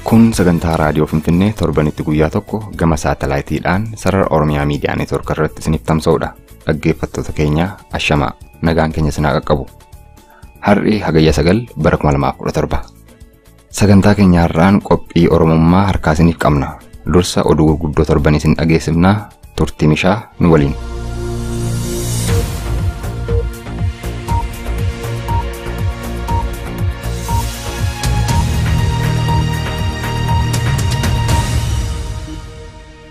Kun sagantaa raadiyoo Finfinnee torbanitti guyyaa tokko gama saatalaayitiidhaan sarara Oromiyaa Miidiyaa Neetwoork irratti isiniif tamsa'udha. Dhaggeeffattoota keenya ashamaa nagaan keenya isin haa qaqqabu. Har'i hagayya sagal bara 2017. Sagantaa keenya har'aan qophii Oromummaa harkaa isiniif qabna. Dursa oduu gurguddoo torban isin dhageessifna turtii mishaa nu waliin.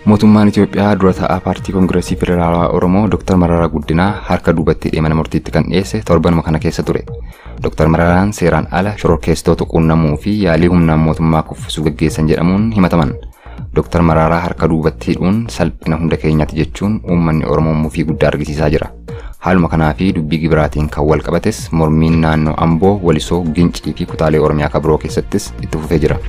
Mootummaan Itoophiyaa dura taa'aa Paartii Kongirasii Federaalawaa Oromoo Dr. Mararaa Guddinaa harka duubatti hidhee mana murtiitti kan dhiyeesse torbanuma kana keessa ture. Dr. Mararaan seeraan ala shororkeessitoota quunnamuu fi yaalii humnaan mootummaa kuffisuu gaggeessan jedhamuun himataman. Dr. Mararaa harka duubatti hidhuun salphina hunda keenyaati jechuun uummanni Oromoo mufii guddaa argisiisaa jira. Haaluma kanaa fi dubbii gibiraatiin kan wal qabates mormiin naannoo Amboo, Walisoo, Gincii fi kutaalee Oromiyaa kan biroo keessattis itti fufee jira.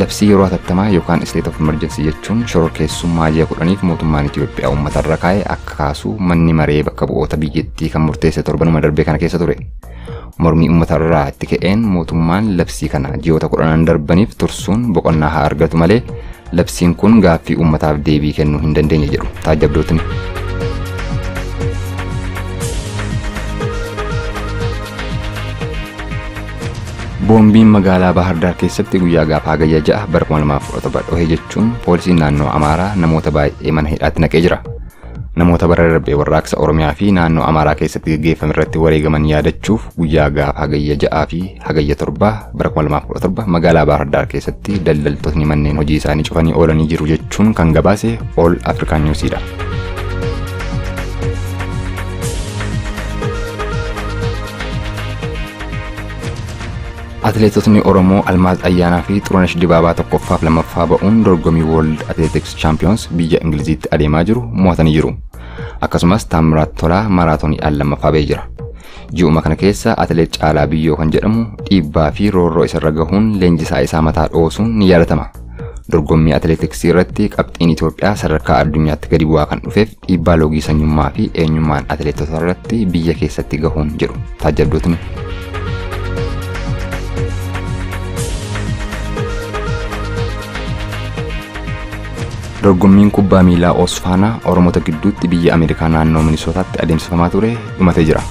Labsii yeroo hatattamaa yookaan state of emergency jechuun shororkeessummaa ji'a kudhaniif mootummaan Itoophiyaa uummata irra kaa'e akka kaasu manni maree bakka bu'oota biyyattii kan murteesse torbanuma darbee kana keessa ture. Mormii uummatarraa itti ka'een mootummaan labsii kana ji'oota kudhanan darbaniif tursuun boqonnaa haa argatu malee labsiin kun gaaffii uummataaf deebii kennuu hin dandeenye jedhu taajjabdootni. Boombiin magaalaa Baahar Daar keessatti guyyaa gaafa hagayya ja'a bara 2017 dhohe jechuun poolisiin naannoo Amaaraa namoota baay'ee mana hidhaatti naqee jira. Namoota bara darbe warraaqsa Oromiyaa fi naannoo Amaaraa keessatti gaggeeffame irratti wareegaman yaadachuuf guyyaa gaafa Hagayya 6 fi Hagayya 7 bara 2017 magaalaa Baahar Daar keessatti daldaltootni manneen hojii isaanii cufanii oolanii jiru jechuun kan gabaase All African News dha. Atileetotni Oromoo Almaaz Ayyaanaa fi Xurunesh Dibaabaa tokkoffaaf lammaffaa ba'uun dorgomii World Athletics Champions biyya Ingiliziitti adeemaa jiru mo'atanii jiru. Akkasumas Taammiraat Tolaa maraatooniidhaan lammaffaa ba'ee jira. Ji'uma kana keessa atileet Caalaa Biyyoo kan jedhamu dhiibbaa fi roorroo isarra gahuun leenjisaa isaa mataa dhoosuun ni yaadatama. Dorgommii atileetiksii irratti qabxiin Itoophiyaa sadarkaa addunyaatti gadi bu'aa kan dhufeef Dhiibbaa loogii sanyummaa fi eenyummaan atileetotaa irratti biyya keessatti gahuun jedhu taajjabdootni. Dorgommiin kubbaa miilaa Oosfaanaa Oromoota gidduutti biyya Ameerikaa naannoo Minisootaatti adeemsifamaa ture dhumatee jira.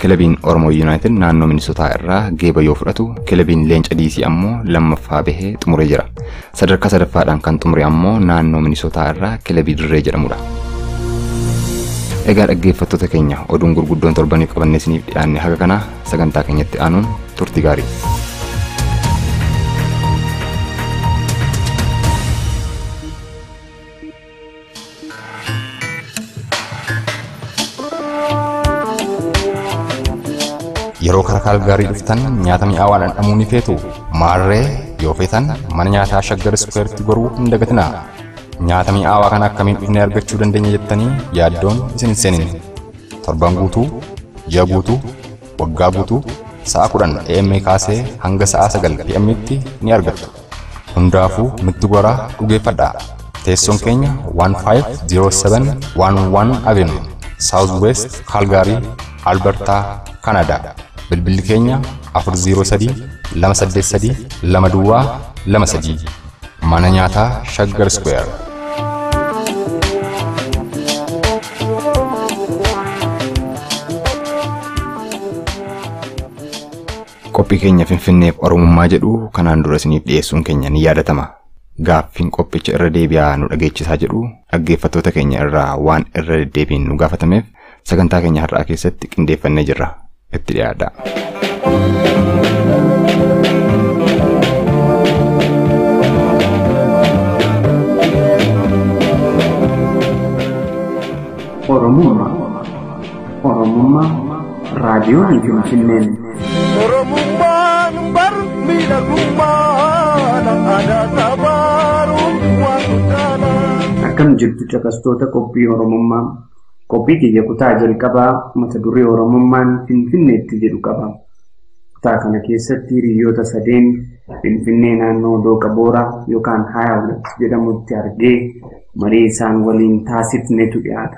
Kilabiin Oromoo Yuunaayitid naannoo Minisootaa irraa geeba yoo fudhatu, kilabiin Leenca Diisii ammoo lammaffaa bahee xumuree jira. Sadarkaa sadaffaadhaan kan xumure ammoo naannoo Minisootaa irraa kilabii Dirree jedhamudha. Egaa dhaggeeffattoota keenya oduun gurguddoon torbaniif qabannee isiniif dhiyaanne haga kanaa sagantaa keenyatti aanuun turtii gaarii. Yeroo karaa Kaalgaarii dhuftan nyaata mi'aawaa dhandhamuu ni feetu. Maarree yoo feetan mana nyaataa Shaggar Iskuweeritti goruu hin dagatinaa. Nyaata mi'aawaa kana akkamiin dhufnee argachuu dandeenya jettanii yaaddoon isin hin seenin. Torban guutuu, ji'a guutuu, waggaa guutuu, sa'a 10 AM kaasee hanga sa'a 9 PM tti ni argattu. Hundaafuu nutti goraa dhugeeffadhaa. Teessoon keenya 150711 Avenue, South West Calgary, Alberta, Canada. Bilbilli keenya 403-283-2223. Mana nyaataa Shaggar Square. Qophii keenya Finfinneef Oromummaa jedhu kanaan dura isiniif dhiyeessuun keenya ni yaadatama. Gaaffiin qophicha irra deebi'aa nu dhageechisaa jedhu dhaggeeffattoota keenya irraa waan irra deddeebiin nu gaafatameef sagantaa keenya har'aa keessatti qindeeffannee jirra. Itti dhiyaadhaa. Oromummaa. Oromummaa raadiyoon Finfinneen. Oromummaan bar miidhagummaadha aadaa sabaaruun waan guddaadha. Akkam jirtu caqastoota qophii Oromummaa. Qophii kiyya kutaa jalqabaa mata duree Oromummaan Finfinneetti jedhu qaba. Kutaa kana keessatti hiriyoota sadeen Finfinnee naannoo Dooqa Booraa yookaan Haayawulat jedhamutti argee marii isaan waliin taasifnetu dhiyaata.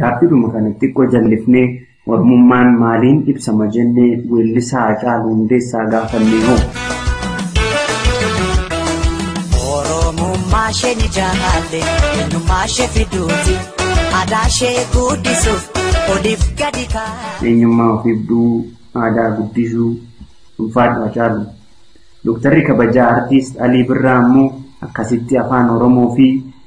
Gaaffiidhuma kana xiqqoo jallifnee Oromummaan maaliin ibsama jennee weellisaa Hacaaluu Hundeessaa gaafannee hoo? Oromummaa ishee ni jaalle eenyummaa ishee fiduuti aadaa ishee guddisuuf oliif gadi kaa'e. Eenyummaa of ibsuu, aadaa guddisuu, ulfaadhu Hacaaluu. Doktarri kabajaa Artiist Alii Birraa ammoo akkasitti Afaan Oromoo fi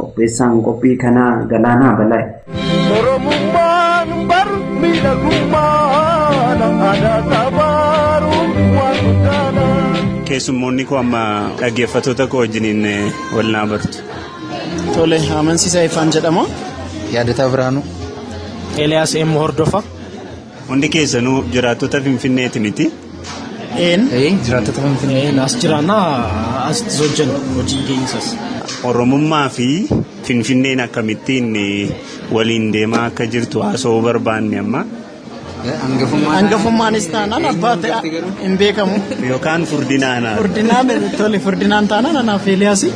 Qopheessaan qophii kanaa Galaanaa Balaay. Oromummaan bar miidhagummaadha aadaa sabaaruun waan guddaadha. Keessummoonni koo amma dhaggeeffattoota koo wajjiniin wal naa bartu. Tole, amansiisa Ifaan jedhama. Yaadataa Birhaanuu. Eliyaas M. Hordofa. Hundi keessanuu jiraattota Finfinneeti miti. Een jiraattota Finfinnee as jiraanna asitti hojjenna hojii keenyisas. Oromummaa fi Finfinneen akkamittiin waliin deemaa akka jirtu haasa'uu barbaanne amma. Hangafummaanis taanaan abbaa ta'e hin beekamu. Yookaan furdinaan haala. Furdinaan tole furdinaan taanaan anaaf Eeliyaasi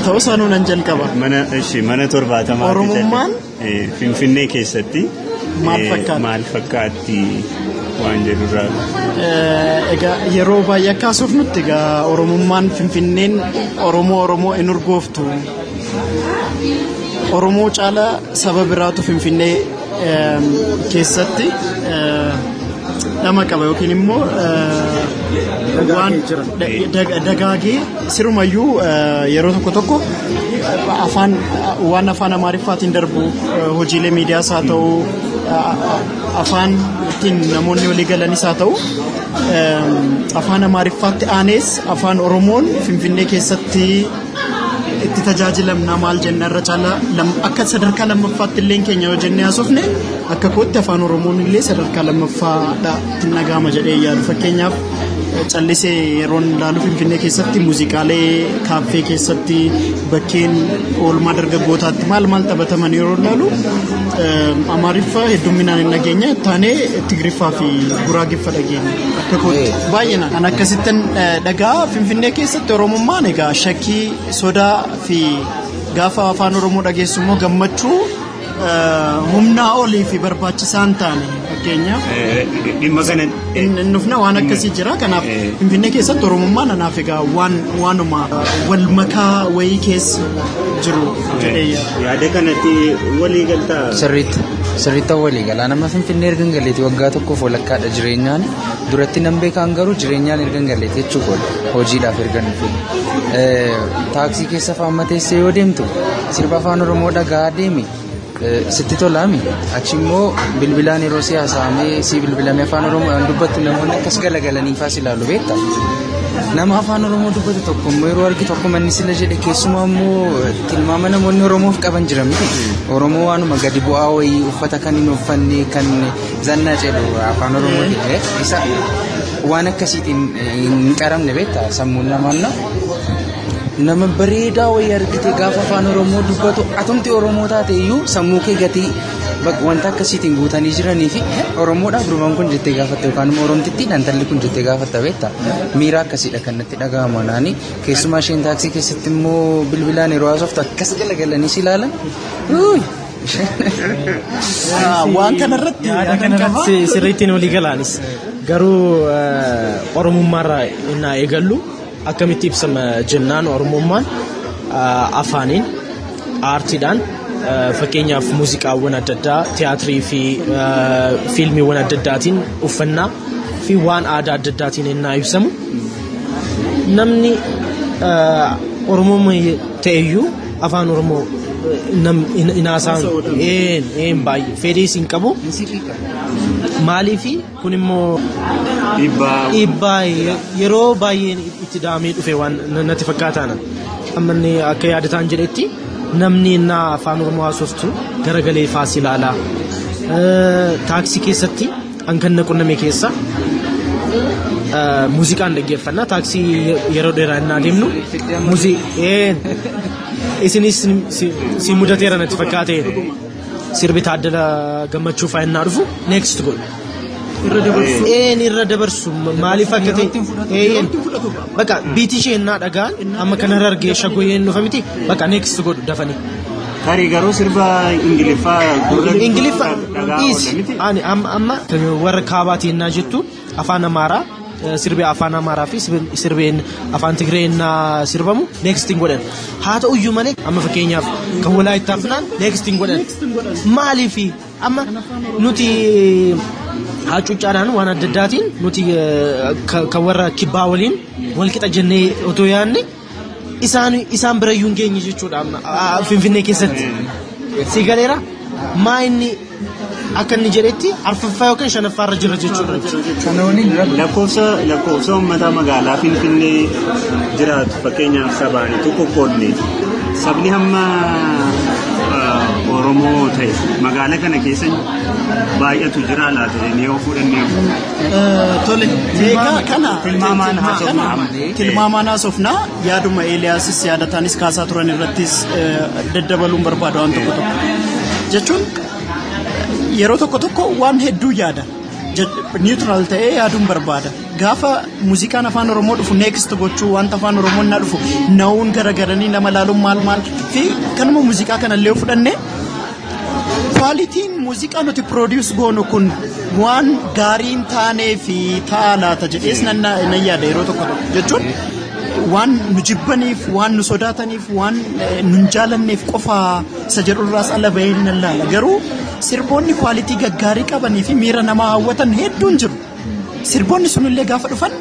ta'us anuu nan jalqaba. Mana ishee mana torbaatamaa. Oromummaan Finfinnee keessatti maal fakkaatti waan jedhurraa. Egaa yeroo baay'ee akka haasofnutti egaa Oromummaan Finfinneen Oromoo Oromoo hin urgooftu. Oromoo caala saba biraatu Finfinnee keessatti dhama qaba yookiin immoo waan dagaagee Sirumayyuu yeroo tokko tokko afaan waan afaan amaariffaatiin darbu hojiilee miidiyaas haa ta'u afaan ittiin namoonni walii galanis haa ta'u afaan amaariffaatti aanees afaan oromoon finfinnee keessatti itti tajaajilamna maal jenna irra caalaa akka sadarkaa lammaffaatti illee keenya yoo jennee haasofne akka kootti afaan oromoon illee sadarkaa lammaffaadha ittiin dhaga'ama jedhee yaadu fakkeenyaaf. callisee yeroon ilaalu Finfinnee keessatti muuziqaalee kaaffee keessatti bakkeen oolmaa dargaggootaatti maal maal taphataman yeroo ilaalu Amaariffa heddumminaan hin dhageenye taanee Tigiriffaa fi Guraagiffa dhageenye akka kootti baay'ina kan akkasittan dhagaa Finfinnee keessatti Oromummaan egaa shakkii sodaa fi gaafa afaan Oromoo dhageessu immoo gammachuu humnaa olii fi barbaachisaa hin taane fakkeenyaaf. Dhimma kana. Hin dhufna waan akkasii jira kanaaf Finfinnee keessatti Oromummaa nanaaf egaa waan waanuma wal makaa wayii keessa jiru jedhee yaada. Yaada kanatti walii galtaa. Sirriitti sirriitti walii galaa nama Finfinnee erga hin galleetti waggaa tokkoof walakkaadha jireenyaan duratti nan beekaan garuu jireenyaan erga hin galleetti jechuudha hojiidhaaf erga hin dhufin. Taaksii keessa faamma teessee yoo deemtu Sirba afaan Oromoo dhagaa deemi sitti tolaami achi immoo bilbilaan yeroo si haasa'amee si bilbilame afaan Oromoodhaan dubbattu namoonni akkas galagalanii faas ilaalu beekta. Nama afaan Oromoo dubbatu tokko immoo yeroo argitu akkuma inni sila jedhe keessumaa immoo tilmaama namoonni Oromoof qaban jiran miti. Oromoo waanuma gadi bu'aa wayii uffata kan hin uffanne kan zannaa jedhu afaan Oromoo jedhe isa waan akkasiitiin hin qaramne beekta sammuun namaa Nama bareedaa wayii argite gaafa afaan Oromoo dubbatu atumti Oromoo taate iyyuu sammuu kee gatii bak- wanta akkasiitiin guutanii jiranii fi Oromoodhaaf durbaan kun jettee gaafatte yookaan immoo Oromtittii dhantalli kun jettee gaafatta beekta. Miira akkasiidha kan natti dhaga'amu anaani. Keessumaa isheen taaksii keessatti immoo bilbilaan yeroo haasoftu akkas galagalanii si ilaalan. Uuy! Waan kanarratti Yaada kanarratti sirriittiin walii galaanis garuu eh, oromummaarraa innaa eegallu Akkamitti ibsama jennaan Oromummaan afaaniin, aartiidhaan fakkeenyaaf muuziqaawwan adda addaa, tiyaatirii fi fiilmiiwwan adda addaatiin, uffannaa fi waan aadaa adda addaatiin ennaa ibsamu namni Oromoo ta'eyyuu afaan Oromoo hin haasa'an baay'ee fedhiis hin qabu maaliifi Kun immoo Dhiibbaa dhiibbaa yeroo baay'een itti da'amee dhufe waan natti fakkaataana. Ammanni akka yaadataan jedhetti namni innaa afaan Oromoo haasoftu garagalee faas ilaalaa. Taaksii keessatti hankan na qunname keessa muuziqaan dhaggeeffanna. Taaksii yeroo dheeraa innaa deemnu muuziqaa isinis si mudateera natti fakkaate. Sirbi Taaddala Gammachuu fa'aa innaa dhufu next goal. Irra dabarsu. Een irra dabarsu maaliif akka ta'e. Yerootti hin fudhatu. Eeyyeen. Yerootti hin fudhatu. Bakka biitii ishee innaa dhagaan amma kanarra argee shagoyeen dhufa miti bakka next godhu dafanii. Tarii garuu sirba Ingiliffaa gurra Ingiliffa dhagaa dhiisi. oola miti. Ani amma amma warra kaabaatiin naa jettu afaan amaaraa sirbi afaan amaaraa fi sirbeen afaan tigreen sirbamu neekstiin godhan haa ta'u iyyuu malee amma fakkeenyaaf kan walaayittaa finaan neekstiin godhan maaliif amma nuti hacuuccaadhaan waan adda addaatiin nuti kan warra kibbaa waliin walqixa jennee otoo yaadne isaan isaan bira iyyuu hin geenye jechuudha amma ah, finfinnee keessatti si galeera maa inni akka inni jedhetti arfaffaa yookiin shanaffaa irra jira jechuudha Kana waliin rabbi Lakkoofsa lakkoofsa uummataa magaalaa Finfinnee jiraatu fakkeenyaaf sabaan utuu qoqqoodne sabni hamma ah, Oromoo ta'e magaalaa kana keessa baay'atu jira laata jennee yoo fudhannee Tole, egaa kana tilmaamaan haasofna. Tilmaamaan haasofna. Yaaduma Eeliyaasis yaadataanis kaasaa turan irrattis daddabaluun barbaada waan tokko tokko. Jechuun yeroo tokko tokko waan hedduu yaada. Niwutiraal ta'ee yaaduun barbaada. Gaafa muuziqaan afaan Oromoo dhufu neekist gochuu wanta afaan Oromoo na dhufu na'uun garagaranii nama laaluun maal maal fi kanuma muuziqaa kanallee fudhannee Kwaalitiin muuziqaa nuti produce goonu kun waan gaarii hin taanee fi ta'a laata jedhees nan nan yaada yeroo tokko tokko jechuun waan nu jibbaniif waan nu sodaataniif waan eh, nu hin jaalanneef qofa isa jedhurraas ala bahee nan laala garuu sirboonni kwaalitii gaggaarii qabanii fi miira namaa hawwatan hedduun jiru. Sirboonni sunillee gaafa dhufan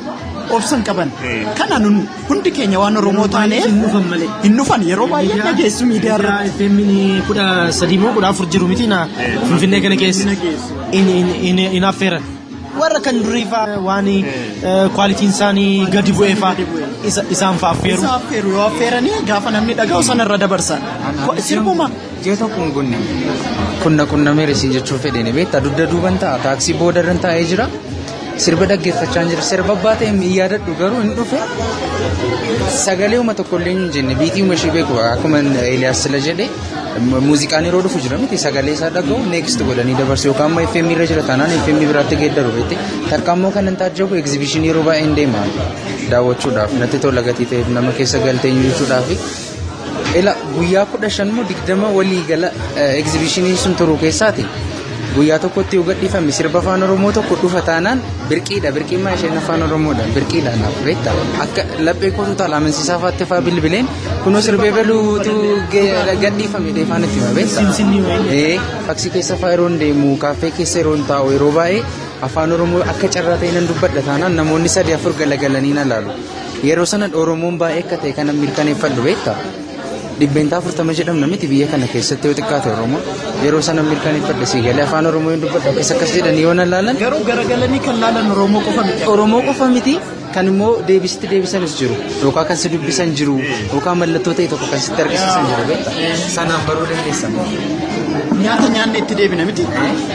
obsan qaban. Kana nun hundi keenya waan Oromoo taaneef hin dhufan yeroo baay'ee dhageessu miidiyaa irratti. Femmini kudha sadii moo kudha afur jiru miti na Finfinnee kana keessa hin affeeran. Warra kan durii fa'aa waan kwaalitiin isaanii gadi bu'ee fa'aa isaan fa'aa affeeru. Isa affeeru yoo affeeranii gaafa namni dhaga'u sana irra dabarsan. Sirbuma Ji'a tokko hin gunne. Kun na qunnameera isin jechuun fedheen beektaa dugda duuban ta'a taaksii boodarran taa'ee jira. Sirba dhaggeeffachaa jira. Sirba abbaa ta'e hin yaadadhu garuu hin dhufe. Sagalee uma tokko illee hin jenne biitii uma ishee beeku akkuma Eeliyaas sila jedhe muuziqaan yeroo dhufu jira miti sagalee isaa dhaga'u next godhanii dabarsu yookaan amma FM irra jira taanaan FM biraatti geeddaru beekte takka ammoo kan hin taajjabu egzibishinii yeroo baay'een deema daawwachuudhaaf natti tola gatii ta'eef nama keessa galtee jechuudhaaf Ila guyyaa kudha shan moo digdama walii gala egzibishiniin sun turu keessaati. Guyyaa tokkotti yoo gadhiifame sirba afaan Oromoo tokko dhufa taanaan birqiidha. Birqiin maa isheen afaan Oromoodha. Birqiidha naaf beekta. Akka laphee kootu taala amansiisaa faatti faa bilbileen kunoo sirbee baluutu gadhiifame deefaan itti hima beekta. Ee faksii keessa faa yeroo hin deemu kaaffee keessa yeroo hin taa'u yeroo baay'ee afaan Oromoo akka carraa ta'e nan dubbadha taanaan namoonni sadii afur galagalanii na laalu. Yeroo sana Oromoon baay'ee akka ta'e kana mirkaneeffadhu beekta. Dhibbeentaa afurtama jedhamna miti biyya kana keessatti yoo xiqqaate Oromoo. Yeroo sana mirkaneeffadhe sii galee afaan Oromoo hin dubbadhu akkas akkas jedhanii yoo na laalan. Garuu garagalanii kan laalan Oromoo qofa miti. Oromoo qofa miti kan immoo deebisitti deebisanis jiru yookaan kan si dubbisan jiru yookaan mallattoo ta'e tokko kan sitti argisiisan jiru beekta. Sanaan baruu dandeessa. Nyaata nyaanne itti deebina miti.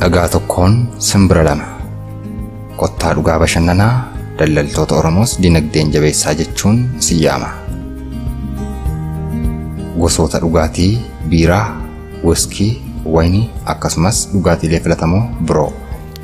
Dhagaa tokkoon simbira lama. Kottaa dhugaa bashannanaa daldaltoota Oromoos dinagdeen jabeessaa jechuun isin yaama. Gosoota dhugaatii biiraa, wiskii, wayinii akkasumas dhugaatiilee filatamoo biroo.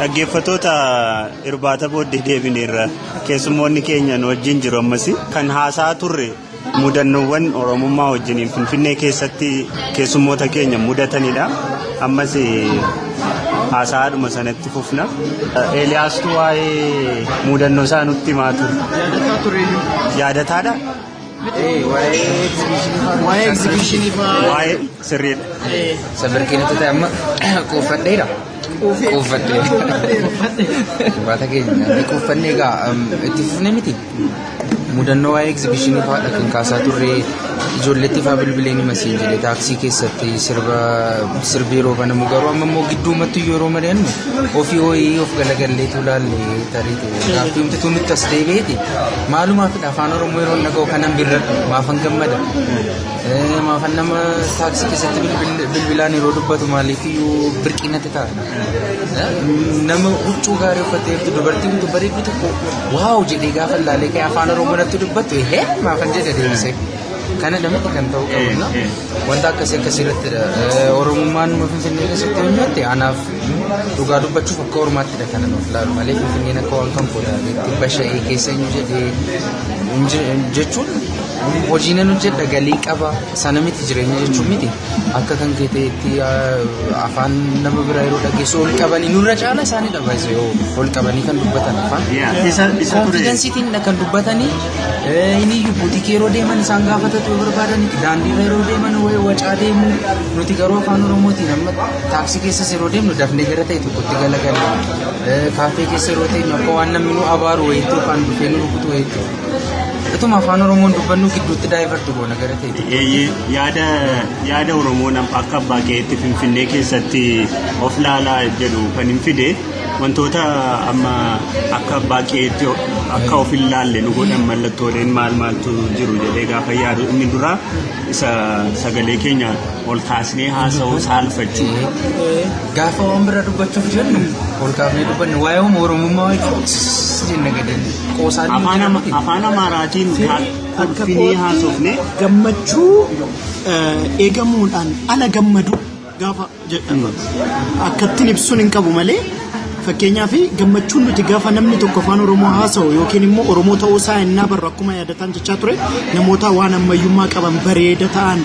Dhaggeeffatoota irbaata booddee deebineerra keessummoonni keenya nu wajjin jiru ammas kan haasaa turre mudannoowwan oromummaa wajjiniin finfinnee keessatti keessummoota keenya mudatanidha. Ammas haasaadhuma sanatti fufna. Eeliyaastuu waa'ee mudannoo isaa nutti himaa ture. Yaadataadha. Waa'ee egzibishinii fa'aa. Waa'ee sirriidha. Sabirkiinatu ta'e amma quuffadheera. Quuffadheera. Baata keenya ni quuffannee egaa um, itti fufne miti. Mudannoo waa'ee egzibishinii fa'aadha kan kaasaa turre ijoolleetti fa'aa bilbileen hima siin jedhe taaksii keessatti sirba sirbi yeroo banamu garuu amma immoo gidduumattu yeroo mari'annu ofii ho'ii of galagalleetu laalle tarii Gaaffii umtituu nutti as deebi'eeti. Maalumaaf afaan Oromoo yeroo dhaga'u kanan birradhu maafan gammada. Eh, Maafan nama taaksii keessatti bilbil- bilbilaan yeroo dubbatu maaliif iyyuu birqii natti ta'a. Eh, Nama huccuu gaarii uffatee fi dubartii bitu bareedduu tokko waaw jedhee gaafa ilaalee ka'e afaan Oromoo natti dubbatu hee maafan jedhe deebisee. Kana namatti kan ta'uu qabu. Wanta akkasii akkasii irratti Oromummaan Finfinnee keessatti hojjette anaaf Dhugaa dubbachuuf akka ormaatti dha kanan of laalu malee Finfinneen akka waan kan booda dhibba sha'ee keessa hin jedhee hin je- hin jechuun hojii nan hojjedha galii qaba sana miti jireenya jechuun miti akka kan kee ta'etti ah, afaan nama biraa yeroo dhageessu ol qabanii nurra caala isaanii dha baay'ee yoo ol qabanii kan dubbatan afaan. Isa isa ture. Konfidensiitiin kan dubbatanii inni buutikii yeroo deeman isaan gaafatatu yoo barbaadan daandiirra yeroo deeman wacaa deemu nuti garuu afaan oromootiin amma Taaksii keessas yeroo deemnu dafnee gara ta'e tokkotti galagalla. Kaaffee keessa yeroo teenyu akka waan namni nu abaaru wayiitti yookaan dhufee nu rukutu wayiitti. Ituma afaan Oromoon dubbannu gidduutti daayivarti goona gara ta'e tokko. Eeyyee, yaada yaada Oromoon am- akka abbaa keetti Finfinnee keessatti of laalaa jedhu kan hin fide wantoota amma akka abbaa keetti o- akka of hin laalle nu godhan mallattooleen maal maaltu jiru jedhee gaafa yaadu inni dura isa sagalee keenya ol kaasnee haasa'uu saalfachuu. Gaafa waan biraa dubbachuuf jennu ol kaafnee dubbanne waa'ee uumaa oromummaa wajjin jenna gadi qoosaan. Afaan Ama- afaan Amaaraatiin haa- kolfinee haasofne gammachuu eh, eegamuudhaan ala gammadu gaafa jedhamu akkattiin ibsuun hin qabu malee fakkeenyaaf gammachuun nuti gaafa namni tokko afaan oromoo haasa'u yookiin immoo oromoo ta'uu isaa innaa barru akkuma yaadataan jechaa ture namoota waan ammayyummaa qaban bareeda ta'an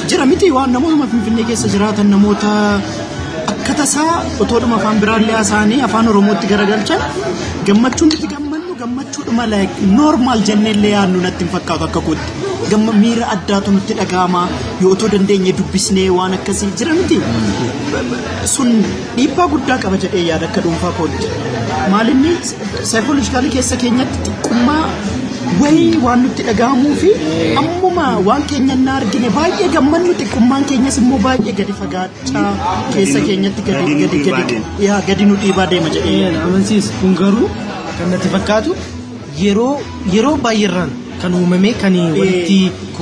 Jira miti waan namootuma Finfinnee keessa jiraatan namoota akka tasaa otoodhuma afaan biraallee haasa'anii afaan Oromootti garagalchan gammachuun itti gammannu gammachuudhuma like normal jenneellee yaadnu natti hin fakkaatu akka kootti. Gamma miira addaatu nutti dhaga'ama yoo otoo dandeenye dubbisnee waan akkasii jira miti. Sun Dhiibbaa guddaa qaba jedhee yaada akka dhuunfaa kootti. Maalinni saayikoolojikaalii keessa keenyatti xiqqummaa wayii waan nutti dhaga'amuu fi ammuma waan keenya hin argine baay'ee gammannu xiqqummaan keenyas immoo baay'ee gadi fagaachaa keessa keenyatti gadi gadi gadi yaa gadi nu dhiibaa deema jedhee yaada. Amansiis kun garuu kan natti fakkaatu yeroo yeroo baay'eerraan kan uumamee kan walitti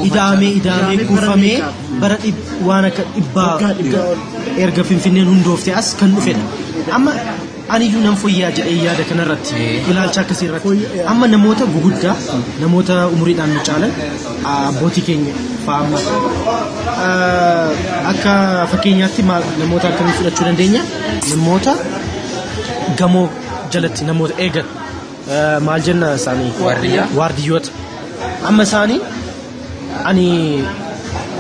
idaamee idaamee kuufamee bara dhib- waan akka dhibbaa erga finfinneen hundoofte as kan dhufedha amma aniyyuu nan foyyaa jedhee yaada kanarratti ilaalcha akkasii irratti amma namoota guguddaa namoota umuriidhaan nu caalan abbootii keenya fa'aa akka fakkeenyaatti maal- namoota akkamii fudhachuu dandeenya namoota gamoo jalatti namoota eegan maal jenna isaanii Waardiyyaa. waardiyyoota amma isaanii ani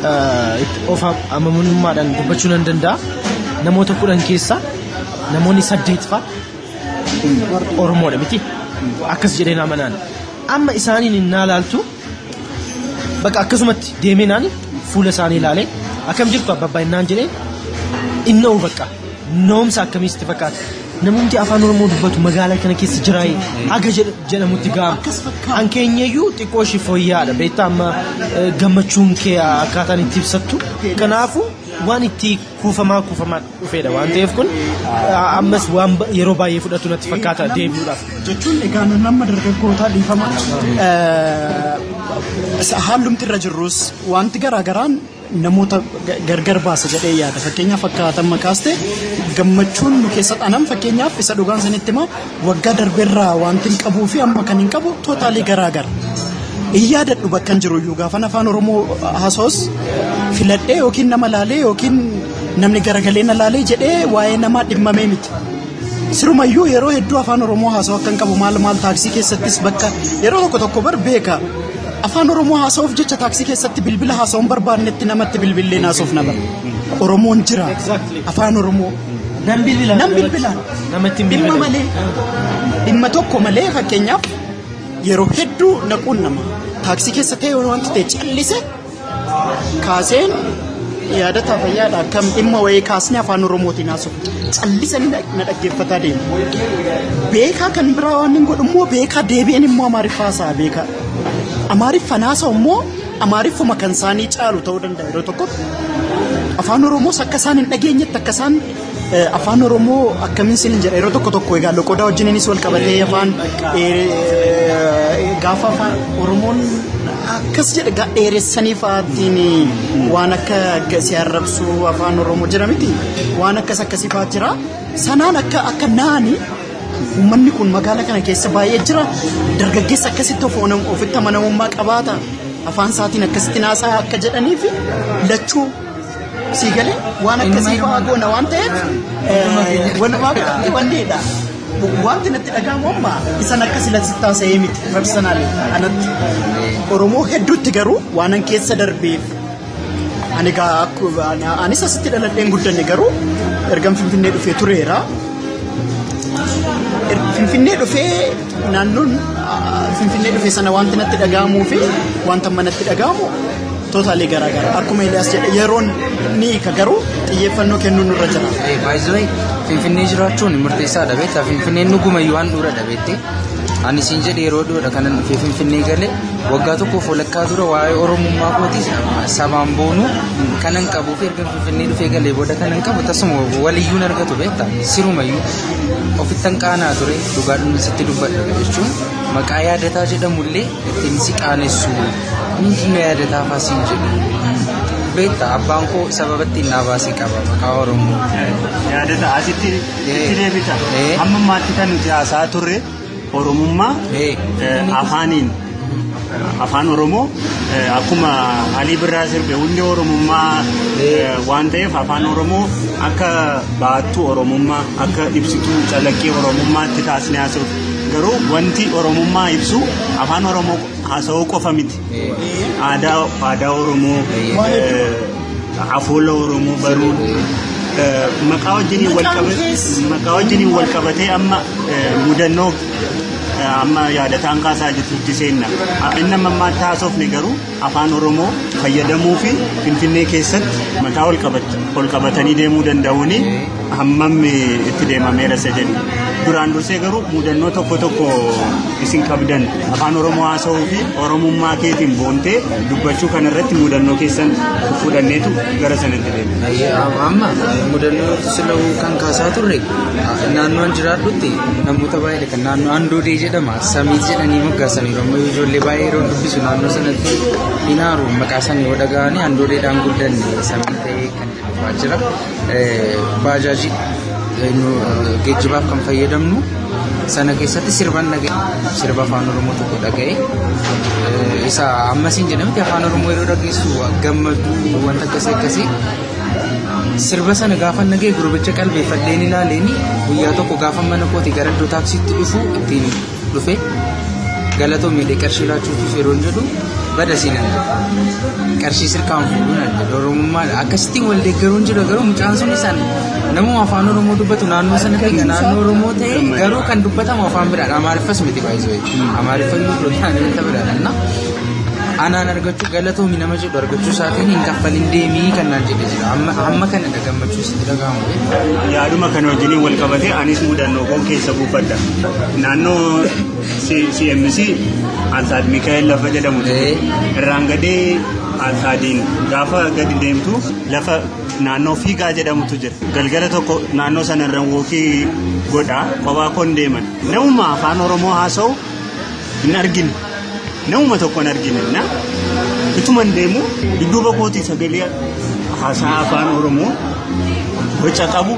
eh, itti of amanamummaadhaan dubbachuu nan danda'a namoota kudhan keessaa namoonni saddeet fa'a oromoodha miti akkas jedheen amanaan amma isaaniin hin naalaaltu Bakka akkasumatti deemee naani fuula isaanii ilaalee akkam jirtu abbaa innaan jedhee inna'u bakka na'umsa akkamii sitti fakkaata. Namumti afaan Oromoo dubbatu magaalaa kana keessa jiraayee haga jedh- jedhamutti ga'ama. Kan keenyayyuu xiqqoo ishii fooyya'aadha beektaa amma eh, gammachuun kee akkaataan itti ibsattu. Kanaafuu waan itti kuufamaa kuufamaa dhufeedha waan ta'eef kun ammas waan yeroo baay'ee fudhatu natti fakkaata deebi'uudhaaf. Jechuun egaa nun amma dargaggootaa dhiifama haalumti irra jirrus wanti garaagaraan namoota gargar baasa jedhee yaada fakkeenyaaf akka haatan makaaste gammachuun nu keessa dhanan fakkeenyaaf isa dhugaan sanitti himaa Waggaa darberraa wanti hin qabuu fi amma kan hin qabu tootaalii garaa gara. Hin yaadadhu bakkan jiru iyyuu gaafan afaan Oromoo hasoos filadhee yookiin nama laalee yookiin namni garagalee na laalee jedhee waa'ee namaa dhimmamee miti. Sirumayyuu yeroo hedduu afaan Oromoo haasoo akkan qabu maal maal taaksii keessattis bakka yeroo tokko tokko bar beeka. Afaan Oromoo haasa'uuf jecha taaksii keessatti bilbila haasa'uun barbaannetti namatti bilbilleen haasa'uuf na bara. Oromoon jira. Afaan Oromoo. Nan bilbila. Nan bilbila. Namatti hin Dhimma bilbile. malee. Dhimma tokko malee fakkeenyaaf yeroo hedduu naquun nama. Taaksii keessa ta'e yoo wanti ta'e callise kaaseen yaadataa fayyaadha akkam dhimma wayii kaasnee afaan oromootiin haasofna. Callisanii na- na dhaggeeffataa deemu. Beekaa kan biraa waan hin godhu immoo beekaa deebi'een immoo amaariffaa haasa'aa beekaa. Amaariffaan haasa'u immoo Amaariffuma kan isaanii caalu ta'uu danda'a yeroo tokko afaan oromoos akka isaan hin dhageenyetti akka isaan eh, afaan oromoo akkamiin sin hin jedha yeroo tokko tokko egaa loqodaa wajjininis wal qabatee afaan eh, eh, gaafa afaan oromoon akkas jedhe gaa dheeressanii fa'aatiin waan akka akkasii arrabsuu afaan oromoo jira miti waan akkas akkasii fa'aa jira sanaan akka akka naani Uummanni kun magaala kana keessa baay'ee jira. Dargaggeessa akkasitti of ofitti amanamummaa qabaata. Afaan isaatiin akkasitti naasaa akka jedhanii fi lachuu sii galee waan akkasii fa'aa goona waan ta'eef walumaa galatti wanneedha. Wanti natti dhaga'amu amma isan akkasii latti taasisee miti personaali anatti. Oromoo hedduutti garuu waanan keessa darbeef Ani egaa akku- ani- anis asitti dhaladheen guddanne garuu ergan Finfinnee dhufee tureera. Er- Finfinnee dhufee naannoon ah, Finfinnee dhufee sana wanti natti dhaga'amuu fi wanta amma natti dhaga'amu tootaalee garaa garaa akkuma Eliyaas jedhe yeroon ni hiika garuu xiyyeeffannoo kennuun irra jira. Baay'ee Finfinnee jiraachuun murteessaa dhabeetta. Finfinneen dhuguma waan dura dhabeette. Ani siin jedhe yeroo dhiyoodha kanan dhufee Finfinnee galee Waggaa tokkoof walakkaa dura waa'ee Oromummaa kootii sabaan boonuu kanan qabuu fi erga Finfinnee dhufee galee booda kanan qabu tasuma waliyyuu argatu beekta sirumayyuu ofittan qaanaa ture dhugaa dhumni sitti dubbadha jechuun maqaa yaadataa jedhamullee ittiin si qaanessu hundi na yaadataa faasiin jedhu beekta abbaan koo sababa ittiin naa baasee qaba maqaa Oromoo. Yaadata asitti itti deebita. Amma maatti kan nuti haasaa turre. Oromummaa afaaniin afaan Oromoo akkuma Alii Birraa sirbe hundi Oromummaa waan ta'eef afaan Oromoo akka baattuu Oromummaa akka ibsituu calaqqee Oromummaatti taasisnee haasofna. Garuu wanti Oromummaa ibsu afaan Oromoo haasa'uu qofa miti. aadaa aadaa Oromoo afoola Oromoo baruu maqaa wajjiniin wal qabatee maqaa wajjiniin wal qabatee amma mudannoo amma yaadataan kaasaa jirtutti seenna. Inni amma ammaatti haasofne garuu afaan Oromoo fayyadamuu fi Finfinnee keessatti mataa ol qabatanii deemuu danda'uuni. hammam itti deemameera isa jedhu duraan dursee garuu mudannoo tokko tokko isin qabdan afaan oromoo haasa'uu fi oromummaa keetiin boontee dubbachuu kana irratti mudannoo keessan fudhanneetu gara sanatti deema. Amma mudannoo sila'uu kan kaasaa turre naannoon jiraadhutti namoota baay'ee kan naannoo Andoodee jedhama samii jedhanii moggaasanii yommuu ijoollee baay'ee yeroo dubbisu naannoo sanatti hin aaru maqaa sanii yoo dhaga'anii Andoodeedhaan guddanne samii ta'ee kan Dhufaa jira. Baajaajii geejjibaaf kan fayyadamnu sana keessatti sirban dhaga'e sirba afaan oromoo tokko dhaga'e isa ammasiin jedhamti afaan oromoo yeroo dhageessu gammaduu wanta akkasii akkasii sirba sana gaafa nagee gurbicha qalbeeffadheen ilaaleeni guyyaa tokko gaafa mana kooti gara iddoo taaksiitti dhufu ittiin dhufe galatoomii dhe qarshii laachuutus yeroon jedhu bada siinan qarshii sirkaan fuudhuun adda doromummaa akkasitti wal deeggaruun jira garuu mucaan sun isaan namuma afaan oromoo dubbatu naannoo sana kan naannoo oromoo ta'e garuu kan dubbatamu afaan biraadha amaariffas miti baay'isoo amaariffa immoo dhotaan wanta biraadha na anaan argachuu galatoomi nama jedhu argachuu isaatiin hin kaffalin deemii kan naan jedhe jira amma kana gammachuu sitti dhaga'amu beekta. Yaaduma kana wajjiniin wal qabatee anis mudannoo koo keessa buufadha. Naannoo CMC Alsaad Mikaa'el lafa jedhamu irraan gadee Alsaadiin gaafa gadi deemtu lafa naannoo fiigaa jedhamutu jira. Galgala tokko naannoo sanarra wookii godhaa kophaa koon deeman. Namuma afaan Oromoo haasa'u hin argine namuma tokko hin argine na ituman deemu dudduuba kootii sagalee haasaa afaan oromoo boca qabu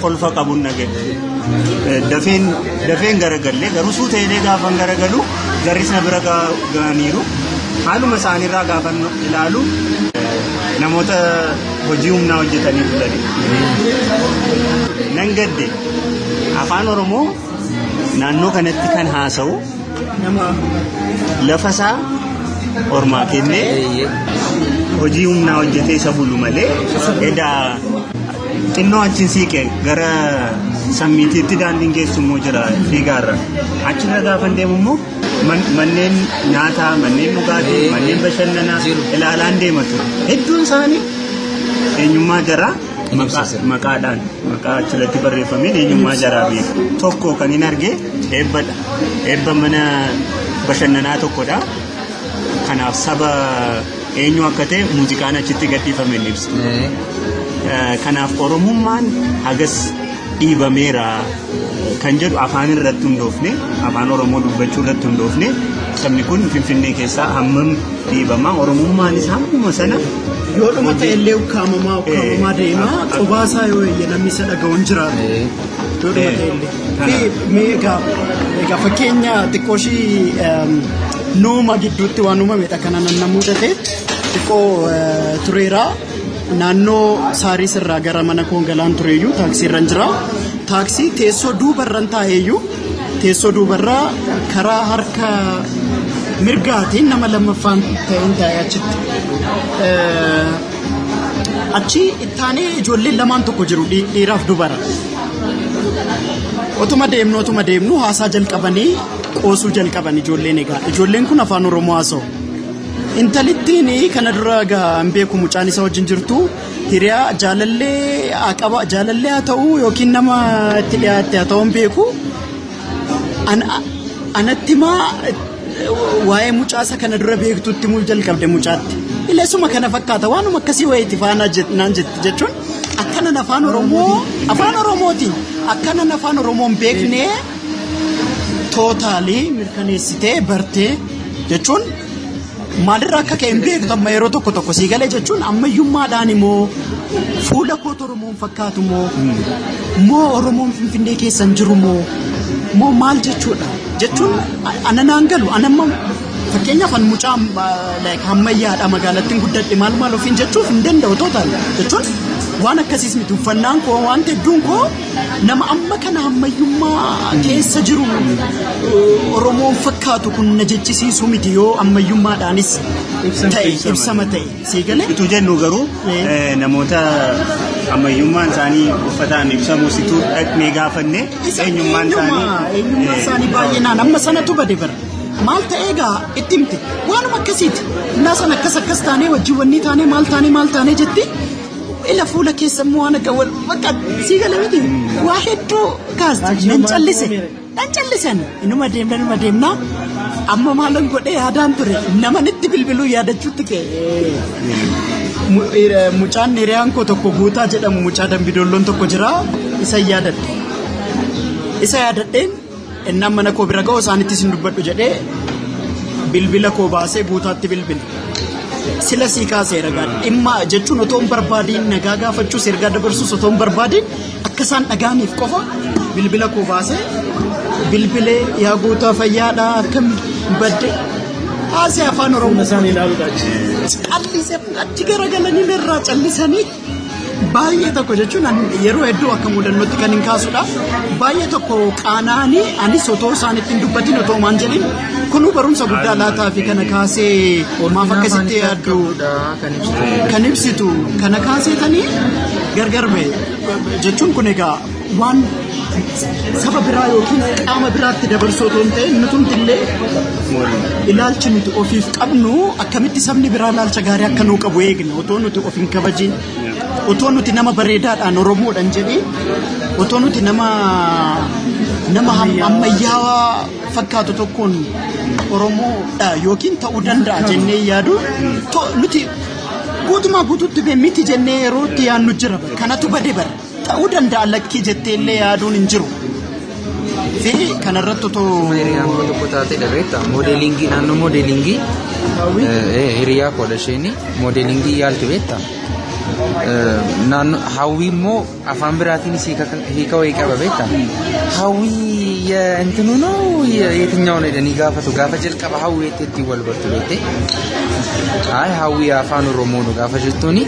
kolfa qabu nage dafeen dafeen garagalle garuu suu ta'ee gaafan garagalu garrisna bira ga'aniiru haaluma isaaniirraa gaafan ilaalu namoota hojii humnaa hojjetanii bulanii nan gadde afaan oromoo naannoo kanatti kan haasa'u nama lafa isaa ormaa kennee hojii humnaa hojjetee isa bulu malee edaa xinnoo achiin siiqe gara sammiitiitti daandiin geessu immoo jira fiigaarra achirra gaafa deemu immoo man- manneen nyaataa manneen dhugaatii manneen bashannanaa ilaalaan deema ture hedduun isaanii eenyummaa jaraa Maqaa, maqaadhaan maqaa achirratti barreeffameen eenyummaa jaraa beeku tokko kan hin arge eebbadha eebba mana bashannanaa tokkodha kanaaf saba eenyu akka ta'e muuziqaan achitti gadhiifame hin ibsu Eh, kanaaf oromummaan hagas dhiibameera kan jedhu afaan irratti hundoofne afaan oromoo dubbachuu irratti hundoofne sabni kun finfinnee keessaa hammam dhiibamaa oromummaan isaa hammuma sana yoo dhuma ta'e illee ukkaamamaa ukkaamamaa Eh, deemaa ah, ah. qubaa isaa yoo eeyye namni isa dhaga'u hin jiraatu Eh, yoo dhuma ta'e Eh, illee kana. Mee- mee egaa egaa fakkeenya xiqqoo ishii em, nuuma gidduutti waan uumamedha kana nan namuu tatee xiqqoo eh, tureeraa Naannoo Saariis irraa gara mana koon galaan tureeyyuu taaksii irra jira. Taaksii teessoo duubarran taa'eeyyuu teessoo duubarraa karaa harka mirgaatiin nama lammaffaan ta'een taa'ee achitti. Achi ittaanee ijoolleen lamaan tokko jiru dhiiraaf dubara. Otuma deemnu otuma deemnu haasaa jalqabanii qoosuu jalqaban ijoolleen egaa ijoolleen kun afaan oromoo haasa'u. Intalittiin kana dura egaa hin beeku mucaan isa wajjin jirtu hiriyaa jaalallee haa qaba jaalallee haa ta'u yookiin nama itti dhiyaatte haa ta'u hin beeku. An- a- Anatti maa waa'ee mucaasa kana dura beektutti mul jalqabde mucaatti. Ilesuma kana fakkaata waanuma akkasii wayiiti faanaa jet- naan jetti jechuun akkanan afaan Oromoo afaan Oromooti akkanan afaan Oromoo hin beekne tootaalii mirkaneessitee bartee jechuun maalirra akka ka'e hin beektu amma yeroo tokko tokko sii galee jechuun ammayyummaadhaan immoo fuula koota Oromoon fakkaatu moo moo Oromoon Finfinnee keessa hin jiru moo moo maal jechuudha jechuun ana naan galu ana amma fakkeenyaaf an mucaa like hammayyaadha magaalattiin guddadhe maal maal ofiin jechuuf hin danda'u tootaan jechuun waan akkasiis miti uffannaan koo waan hedduun koo Nama amma kana ammayyummaa keessa jiru Oromoon fakkaatu kun na jechisiisu miti yoo ammayyummaadhaanis ta'e ibsama ta'e sii galee. Utuu jennu garuu namoota ammayyummaan isaanii uffataan ibsamu situ dhaqnee gaafanne eenyummaan isaanii. Eenyummaan isaanii baay'inaan amma sanatu bade bara. Maal ta'ee egaa itti himte waanuma akkasiiti. Innaa sana akkas akkas taanee wajjin wanni taanee maal taanee maal taanee jetti. Ila fuula keessa immoo waan akka wal bakka sii gala miti waa hedduu kaasti nan callise nan callisan inuma deemna inuma deemna amma maalan godhee yaadaan ture naman itti bilbiluu yaadachuutti ka'e. Mu- eh, Mucaan hiriyaan koo tokko guutaa jedhamu mucaa dambidoolloon tokko jira isa yaadadhe isa yaadadheen Innaan mana koo bira ga'u isaanitti isin dubbadhu jedhee bilbila koo baasee guutaatti bilbile. Sila sii kaasee ragaa dhimma jechuun otoo hin barbaadiin nagaa gaafachuus ergaa dabarsuus otoo hin barbaadiin akka isaan dhagaaniif qofa bilbila koo baasee bilbilee yaa guutaa fayyaadhaa akkam badde haasee afaan oromoo. Callisee achi garagalanii irraa callisanii. Baay'ee tokko jechuun yeroo hedduu akka mudannootti kan hin kaasudha. Baay'ee tokko qaanaanii anis otoo isaanitti hin dubbatin otoo maan jedhin kunuu barumsa guddaa laataa fi kana kaasee maaf akkasitti yaaddu kan ibsitu kana kaaseetanii gargar ba'e jechuun kun egaa waan saba biraa yookiin qaama biraatti dabarsuu otoo hin ta'in nutumti illee ilaalchi nuti ofiif qabnu akkamitti sabni biraa ilaalcha gaarii akka nuu qabu eegna otoo nuti of hin kabajin otoo nuti nama bareedaadhaan oromoodhaan jedhee otoo nuti nama nama ham- ammayyaawaa fakkaatu tokkoon oromoodha yookiin ta'uu danda'a jennee yaadu to- nuti guutumaa guutuutti bee miti jennee yeroo itti yaannu jira kanatu bade bara. Ta'uu danda'a lakkii jettee illee yaaduun hin jiru. Fi kanarratti otoo Hiriyaan koo tokko taatee dhabeetta. Moodeelingii naannoo moodeelingii hiriyaa koodha isheenii moodeelingii yaalti beetta. Naannoo hawwii immoo afaan biraatiin isii hiika wayii qaba beetta. Hawwii intinu noo yetinyaawwan jedhanii gaafatu gaafa jalqaba hawwii itti ittiin wal bartu beettee. Hayi hawwii afaan oromoo nu gaafa jettuuni.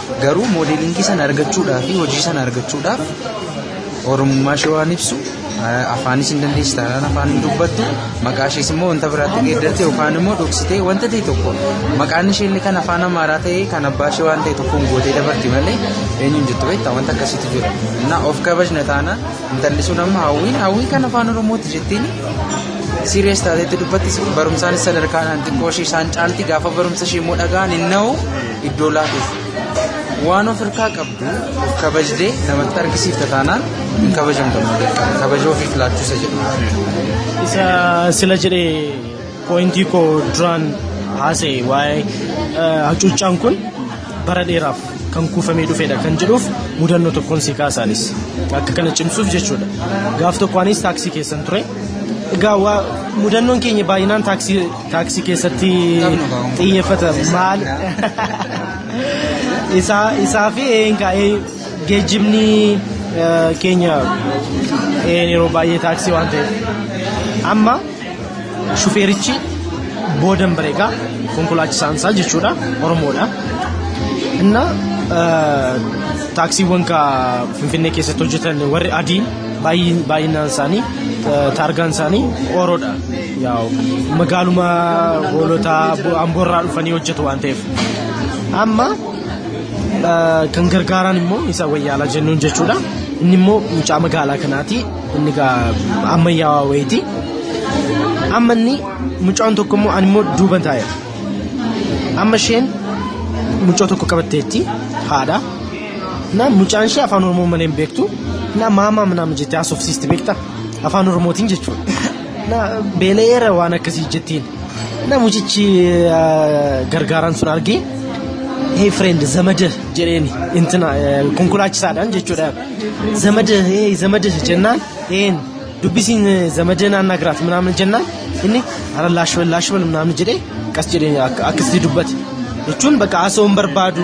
Garuu moodeelingii sana argachuudhaaf fi hojii sana argachuudhaaf oromummaa ishee waan ibsu afaanis hin dandeessi taanaan afaan hin dubbattu maqaa ishees immoo wanta biraatti geeddatte yookaan immoo dhoksitee wanta ta'e tokko maqaan ishee illee kan afaan amaaraa ta'e kan abbaa ishee waan ta'e tokkoon gootee dabarti malee eenyuun jettu beektaa wanta akkasiitu jira innaa of kabajna taanaan intalli sun amma hawwiin hawwiin kan afaan oromooti jettiin siiriyees taateetti dubbatti barumsaanis sadarkaadhaan xiqqoo ishee isaan caalti gaafa barumsa ishee immoo dhagaan hin na'u iddoo laafuuf waan of harkaa qabdu of kabajde namatti argisiifta taanaan hin kabajamtu kabaja ofiif laachuusa jedhu. Isa sila jedhe pooyintii koo duraan haasa'e waa'ee hacuuccaan kun bara dheeraaf kan kuufamee dhufedha kan jedhuuf mudannoo tokkoon si kaasaanis akka kana cimsuuf jechuudha. Gaaf tokko anis taaksii keessan ture. Egaa mudannoon keenya baay'inaan taaksii Taaksii keessatti xiyyeeffata maal isaa isaa fi eenka geejjibni keenya een yeroo baay'ee taaksii waan ta'eef amma shufeerichi boodan bareegaa konkolaachisaan isaa jechuudha oromoodha inna taaksiiwwan ka finfinnee keessatti hojjetan warri adii baay'inaan isaanii taargaan isaanii oroodha. Magaaluma hoolotaa amboorraa dhufanii hojjetu waan ta'eef. Amma kan gargaaraan immoo isa wayyaalaa jennuun jechuudha. Inni immoo mucaa magaalaa kanaati. Inni ammayyaawaa wayiiti. Amma inni mucaan tokko immoo ani immoo duuban taa'eera. Amma isheen mucaa tokko qabatteetti haadha. Na mucaan ishee afaan oromoo malee hin beektu. Na maamaa manaama jettee haasofsiisti beekta. Afaan oromootiin jechuudha. Na beela'eera waan akkasii jettiin. Na mucichi eh, gargaaraan sun argee hey friend zamada jedheeni intina eh, konkolaachisaadhaan jechuudha. Zamada hey zamada jennaan een dubbisiin eh, zamada naannaa giraat minaamin jennaan inni ara laashwal laashwal minaamin jedhee qas jedhee akka- akkasitti dubbate. Jechuun bakka haasawuun barbaadu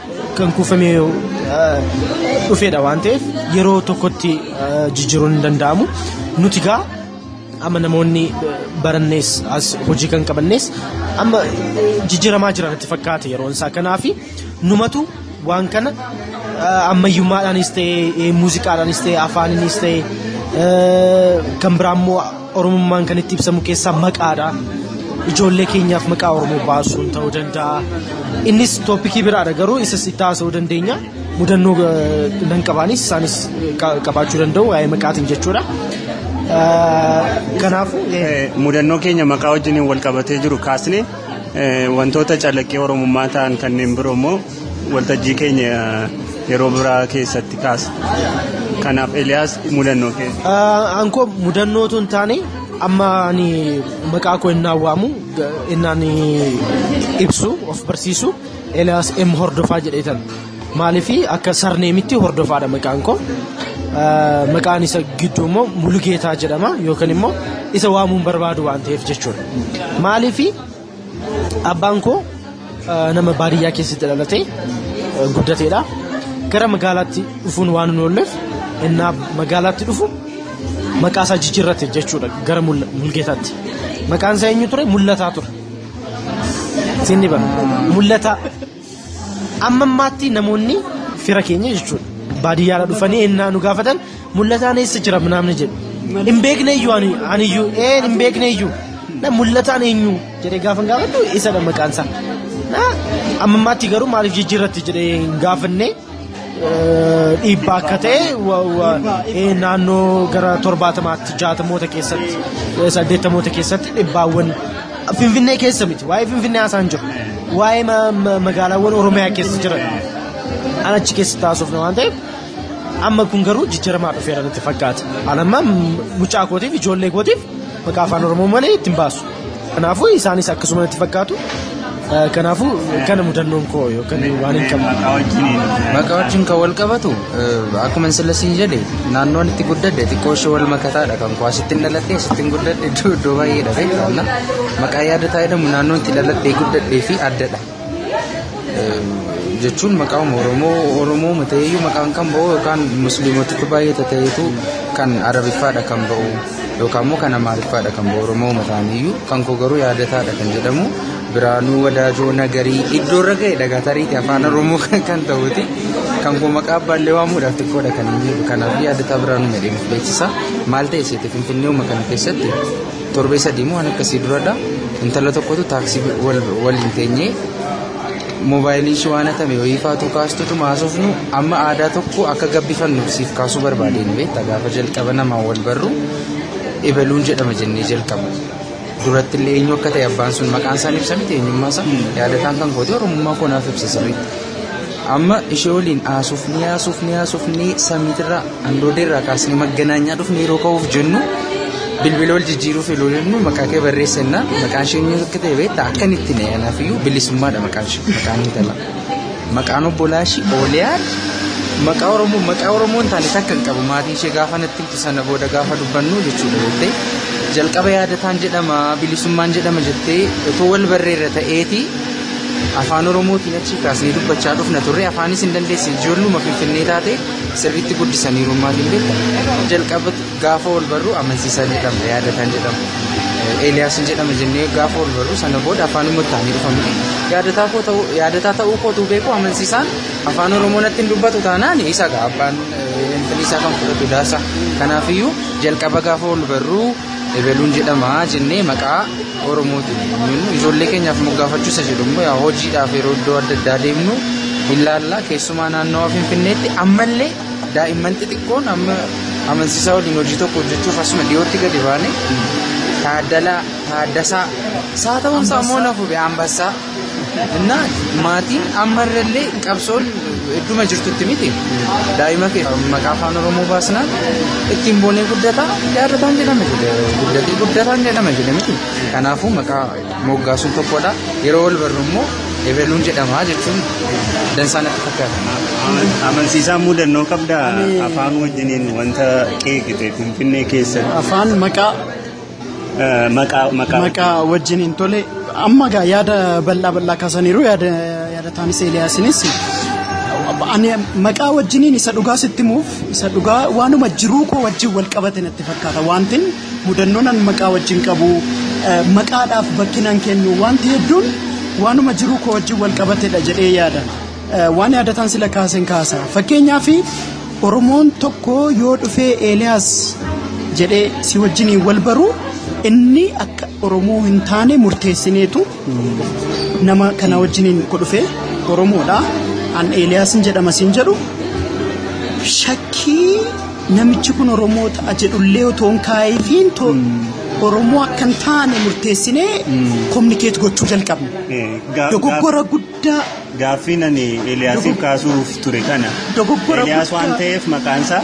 kan kuufamee dhufeedha waan ta'eef yeroo tokkotti jijjiiruun hin danda'amu nuti gaa amma namoonni barannees as hojii kan qabannees amma jijjiiramaa jiran itti fakkaate yeroon isaa kanaafi numatu waan kana ammayyummaadhaanis ta'e muuziqaadhaanis ta'e afaaninis ta'e kan biraa immoo Oromummaan kan itti ibsamu keessaa maqaadha. Ijoollee keenyaaf maqaa Oromoo baasuun ta'uu danda'a. Innis tooppikii biraadha garuu isas itti haasa'uu dandeenya. Mudannoo nan qabaanis isaanis qabaachuu danda'u waa'ee maqaatiin jechuudha. Kanaafuu mudannoo keenya maqaa wajjin wal qabatee jiru kaasne wantoota calaqqee Oromummaa ta'an kanneen biroo immoo Waltajjii keenya yeroo biraa keessatti kaasa. Kanaaf Eliyaas mudannoo keessa. Aankoo mudannoo tun taane amma ani maqaa koo innaan waamu innaan ibsu of barsiisu Eliyaas M hordofaa jedheetan. Maaliif akka sarneemitti hordofaadha maqaan koo. Maqaan isa gidduu immoo Mulugeetaa jedhama yookaan immoo isa waamuun barbaadu waan ta'eef jechuudha. Maaliif Abbaan koo nama baadiyyaa keessatti dhalatee guddateedha. Gara magaalaatti dhufuun waan hin oolleef innaa magaalaatti dhufu maqaa isaa jijjiirrate jechuudha gara mulgeetaatti. Maqaan isaa eenyu ture? Mul'ataa ture. Siin ni bara. Mul'ataa. Amma ammaatti namoonni fira keenya jechuudha. Baadiyyaadha dhufanii ennaa nu gaafatan mul'ataan eessa jira namni jedhu. Hin beekne iyyuu ani ani iyyuu ee hin beekne iyyuu na mul'ataan eenyu jedhee gaafa gaafadhu isadha maqaan isaa. Amma ammaatti garuu maaliif jijjiirratti jedhee hin gaafanne. dhiibbaa akka ta'e naannoo gara torbaatamaatti jaatamoota keessatti saddeettamoota keessatti dhibbaawwan finfinnee keessa miti waa'ee finfinnee haasaan jiru waa'ee magaalaawwan oromiyaa keessa jiran an achi keessa taasifne waan ta'eef amma kun garuu jijjiiramaa dhufeera natti fakkaata an amma mucaa kootiif ijoollee kootiif maqaa afaan oromoo malee ittiin baasu. Kanaafuu isaanis akkasuma natti fakkaatu. Eh, Kanaafuu kana mudannoon koo yookaan waan hin qabne. Maqaa wajjin kan wal qabatu eh, akkuma sila siin jedhe naannoon itti guddadde xiqqoo ishee wal makataadha kan koo asittiin dhalattee asittiin guddadde iddoo iddoo baay'eedha beektaa maqaa yaada taa'edhamu naannoon itti dhalattee guddadde fi addadha. jechuun maqaan Oromoo Oromoo ta'eeyyuu maqaan kan ba'u yookaan musliimotatti baay'ee ta'eetu kan arabiffaadha kan ba'u yookaan immoo kan amaariffaadha kan ba'u Oromoo ta'aniyyuu kan koo garuu yaadataadha kan jedhamu biraanuu wadaajoo nagarii iddoo irra ga'e dhagatariiti afaan Oromoo kan ta'uti kan koo maqaa abbaallee waamuudhaaf xiqqoodha kan inni jedhu kanaaf yaadataa biraanuu medheef beeksisa maal ta'e seete finfinnee uuma kana keessatti Torbee sadii moo waan akkasii duradha. Intala tokkotu taaksii waliin teenyee moobaayilii ishee waan hatame wayii faatu kaastutu maasofnu amma aadaa tokko akka gabbifannuuf siif kaasuu barbaadeen beekta gaafa jalqaba namaan wal barru ebaluun jedhama jennee jalqaba. Duratti illee eenyu akka ta'e abbaan sun maqaan isaan ibsamiti eenyummaa isaa yaadataan kan kooti oromummaa koo naaf ibsa sirriitti. Amma ishee waliin haasofnee haasofnee haasofnee samiitirraa handoodeerraa kaasnee magganaanyaa dhufnee yeroo ka'uuf jennu bilbila wal jijjiiruuf yeroo jennu maqaa kee barreessinna maqaan ishee inni akka ta'e beektaa akka inni itti na'e anaaf iyyuu bilisummaadha maqaan ishee maqaan intala maqaan obbolaa ishee ooliyaa maqaa oromoo maqaa oromoo hin taane takka hin qabu maatii ishee gaafa natti himtu sana booda gaafa dubbannu jechuudha jettee jalqaba yaadataan jedhama bilisummaan jedhama jettee otoo wal barreerra ta'eeti Afaan Oromootiin achi kaasnee dubbachaa dhufna turre afaanis hin dandeesse ijoolluma finfinnee taate sirriitti guddisaniiru maaliin beekta jalqaba gaafa wal barru amansiisaa jedhama yaadataan jedhama Eeliyaas hin jedhama jennee gaafa wal barru sana booda afaanuma taanii dhufamne yaadataa koo ta'uu yaadataa ta'uu kootu beeku amansiisaan afaan Oromoo natti hin dubbatu taanaan isa gaa abbaan finfinnee isaa kan fudhatu daasa kanaafiyyuu jalqaba gaafa wal barru Ebeluun jedhama jennee maqaa Oromootiin jennu ijoollee keenyaaf moggaafachuu isa jedhu immoo yaa hojiidhaaf yeroo iddoo adda addaa deemnu ilaalla keessumaa naannawa Finfinneetti ammallee daa'imman xixiqqoon amma amansiisaa waliin hojii tokko hojjechuuf asuma dhiyootti gadi baane taaddalaa taaddasaa isaa ta'uun isaa immoo na fube ambassaa Innaa maatiin amma irrallee qabsoon idduma jirtutti miti daa'ima kee maqaa afaan oromoo baasnaan ittiin boonee guddataa yaadataan jedhama jedhe guddatee guddataan jedhama jedhe miti kanaafuu maqaa moggaasuun tokkodha yeroo wal barru immoo ebeluun jedhamaa jechuun dansaa natti fakkaata. Amansiisaa mudannoo qabdaa afaan wajjiniin wanta qeeqite Finfinnee keessatti. Afaan maqaa Maqaa maqaa. maqaa wajjin hin tole amma gaa yaada bal'aa bal'aa kaasaniiru yaada yaadataanis eeliyaasinis ani maqaa wajjiniin isa dhugaa sitti himuuf isa dhugaa waanuma jiruu koo wajjin wal qabate natti fakkaata wantin mudannoon an maqaa wajjin qabu eh, maqaadhaaf bakkinaan kennu wanti hedduun waanuma jiruu koo wajjin wal qabatedha jedhee yaada. Waan yaadataan sila kaasen kaasa. Fakkeenyaaf Oromoon tokko yoo dhufee Eeliyaas jedhee si wajjiniin wal baru inni akka Oromoo hin taane murteessineetu nama kana wajjiniin ko dhufee Oromoodha. An Eeliyaasin jedhama siin jedhu shakkii namichi kun Oromoo ta'a jedhullee otoo hin kaa'ifiin to Oromoo akka hin taane murteessinee kominikeet gochuu jalqabna. Dogoggora guddaa. guddaa Gaaffiin ani Eeliyaasiif kaasuuf ture kana. Dogoggora Eeliyaas guddaa. waan ta'eef maqaansaa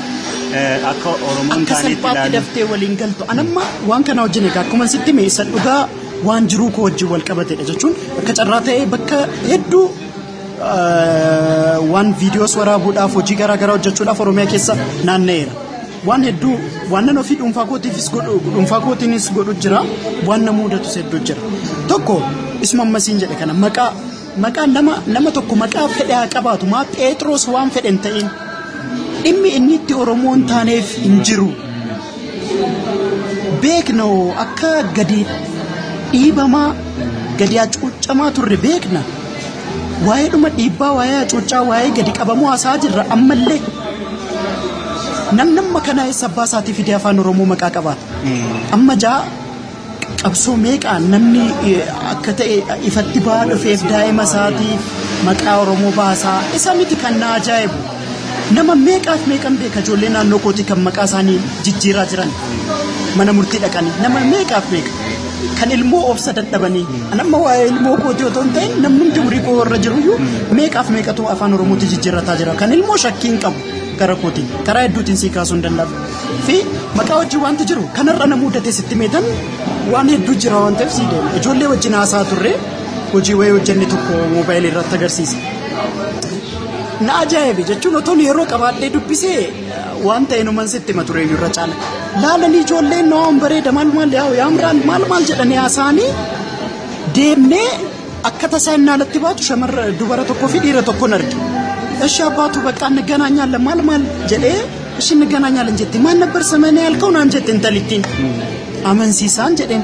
eh, akka Oromoon akka taanitti salphaatti ilaalu. daftee waliin galtu. Anamma waan kana wajjin egaa akkuma sitti mee isa dhugaa waan jiruu koo wajjin wal qabatedha jechuun akka carraa ta'ee bakka hedduu eh, waan viidiyoos waraabuudhaaf hojii garaa garaa hojjechuudhaaf Oromiyaa keessa naanna'eera. Waan hedduu waanan ofii dhuunfaa kootiifis godhu dhuunfaa kootiinis godhu jira waan na muudatus hedduu jira. Tokko isuma ammasiin jedhe kana maqaa maqaa nama nama tokko maqaa fedhe haa qabaatu maa Pheexroos waan fedhe hin ta'in dhimmi inni itti Oromoo hin taaneef hin jiru. Beekna akka gadi dhiibamaa gadi hacuucamaa turre beekna. Waa'ee dhuma dhiibbaa, waa'ee hacuuccaa, waa'ee gadi qabamuu haasa'aa jirra ammallee. Namni amma kana eessa abbaa isaatii fidee afaan Oromoo maqaa qabaata. Amma jaa qabsoo meeqaan namni eh, akka ta'e ifatti ba'aa dhufeef daa'ima isaatii maqaa Oromoo baasaa isa miti kan na ajaa'ibu. Nama meeqaaf meeqan beeka ijoollee naannoo kootii kan maqaa isaanii jijjiiraa jiran mana murtii dhaqanii nama meeqaaf meeqa kan ilmoo obsa dadhabanii an amma waa'ee ilmoo kootii otoo hin ta'in namni hundi umurii koo irra jiru iyyuu meeqaaf meeqatu afaan oromootti jijjiirrataa jira kan ilmoo shakkii hin qabu gara kootiin karaa hedduutiin sii kaasuu hin danda'amu fi maqaa wajjin wanti jiru kanarra na muudate sitti meetan waan hedduu jira waan ta'eef sii deema ijoollee wajjin haasaa turre hojii wayii hojjenne tokko moobaayilii irratti agarsiisa. Na ajaa'ibe jechuun otoon yeroo qabaadhee dubbisee waan ta'e numan sitti hima ture irra caala. Laalanii ijoolleen waan bareeda maal maal yaa yaamraan maal maal jedhanii haasaanii deemnee akka tasaa innaa alatti baatu shamarra dubara tokkoo fi dhiira tokkoon arge. Eshi abbaatu baqqaa naganaa nyaalla maal maal jedhee ishiin naganaa nyaalan jette maal nabbar samanee halka'u naan jette intalittiin. Amansiisaan jedheen.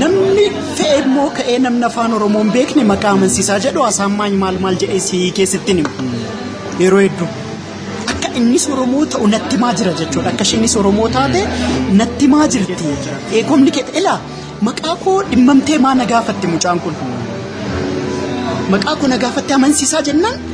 Namni fe'e immoo ka'ee namni afaan Oromoo hin beekne maqaa amansiisaa jedhu haasaan maal maal maal jedhee si keessatti hima. Yeroo hedduu. Akka innis Oromoo ta'u natti maa jira jechuudha. Akka isheenis Oromoo taate natti maa jirti. Ee kominikeet ilaa maqaa koo dhimmamtee maa na gaafatti mucaan kun. Maqaa koo na gaafattee amansiisaa jennaan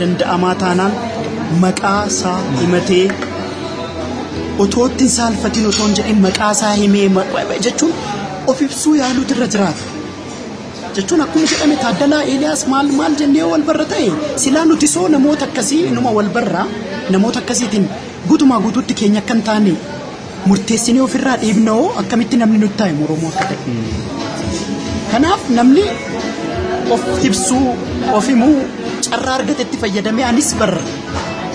danda'amaa taanaan maqaa isaa himatee otoo itti hin saalfatiin otoo hin jedhin maqaa isaa himee ma- ma- ma- jechuun of ibsuu yaaluutu irra jiraata. Jechuun akkuma jedhame Taaddalaa Eeliyaas maal maal jennee wal barra ta'e silaa nuti soo namoota akkasii inuma wal barraa namoota akkasiitiin guutumaa guutuutti keenya akka hin taane murteessinee ofirraa dhiibna hoo akkamitti namni nutti taa'e Oromoo akka ta'e. Kanaaf namni of ibsuu, of himuu carraa argatetti fayyadamee anis bar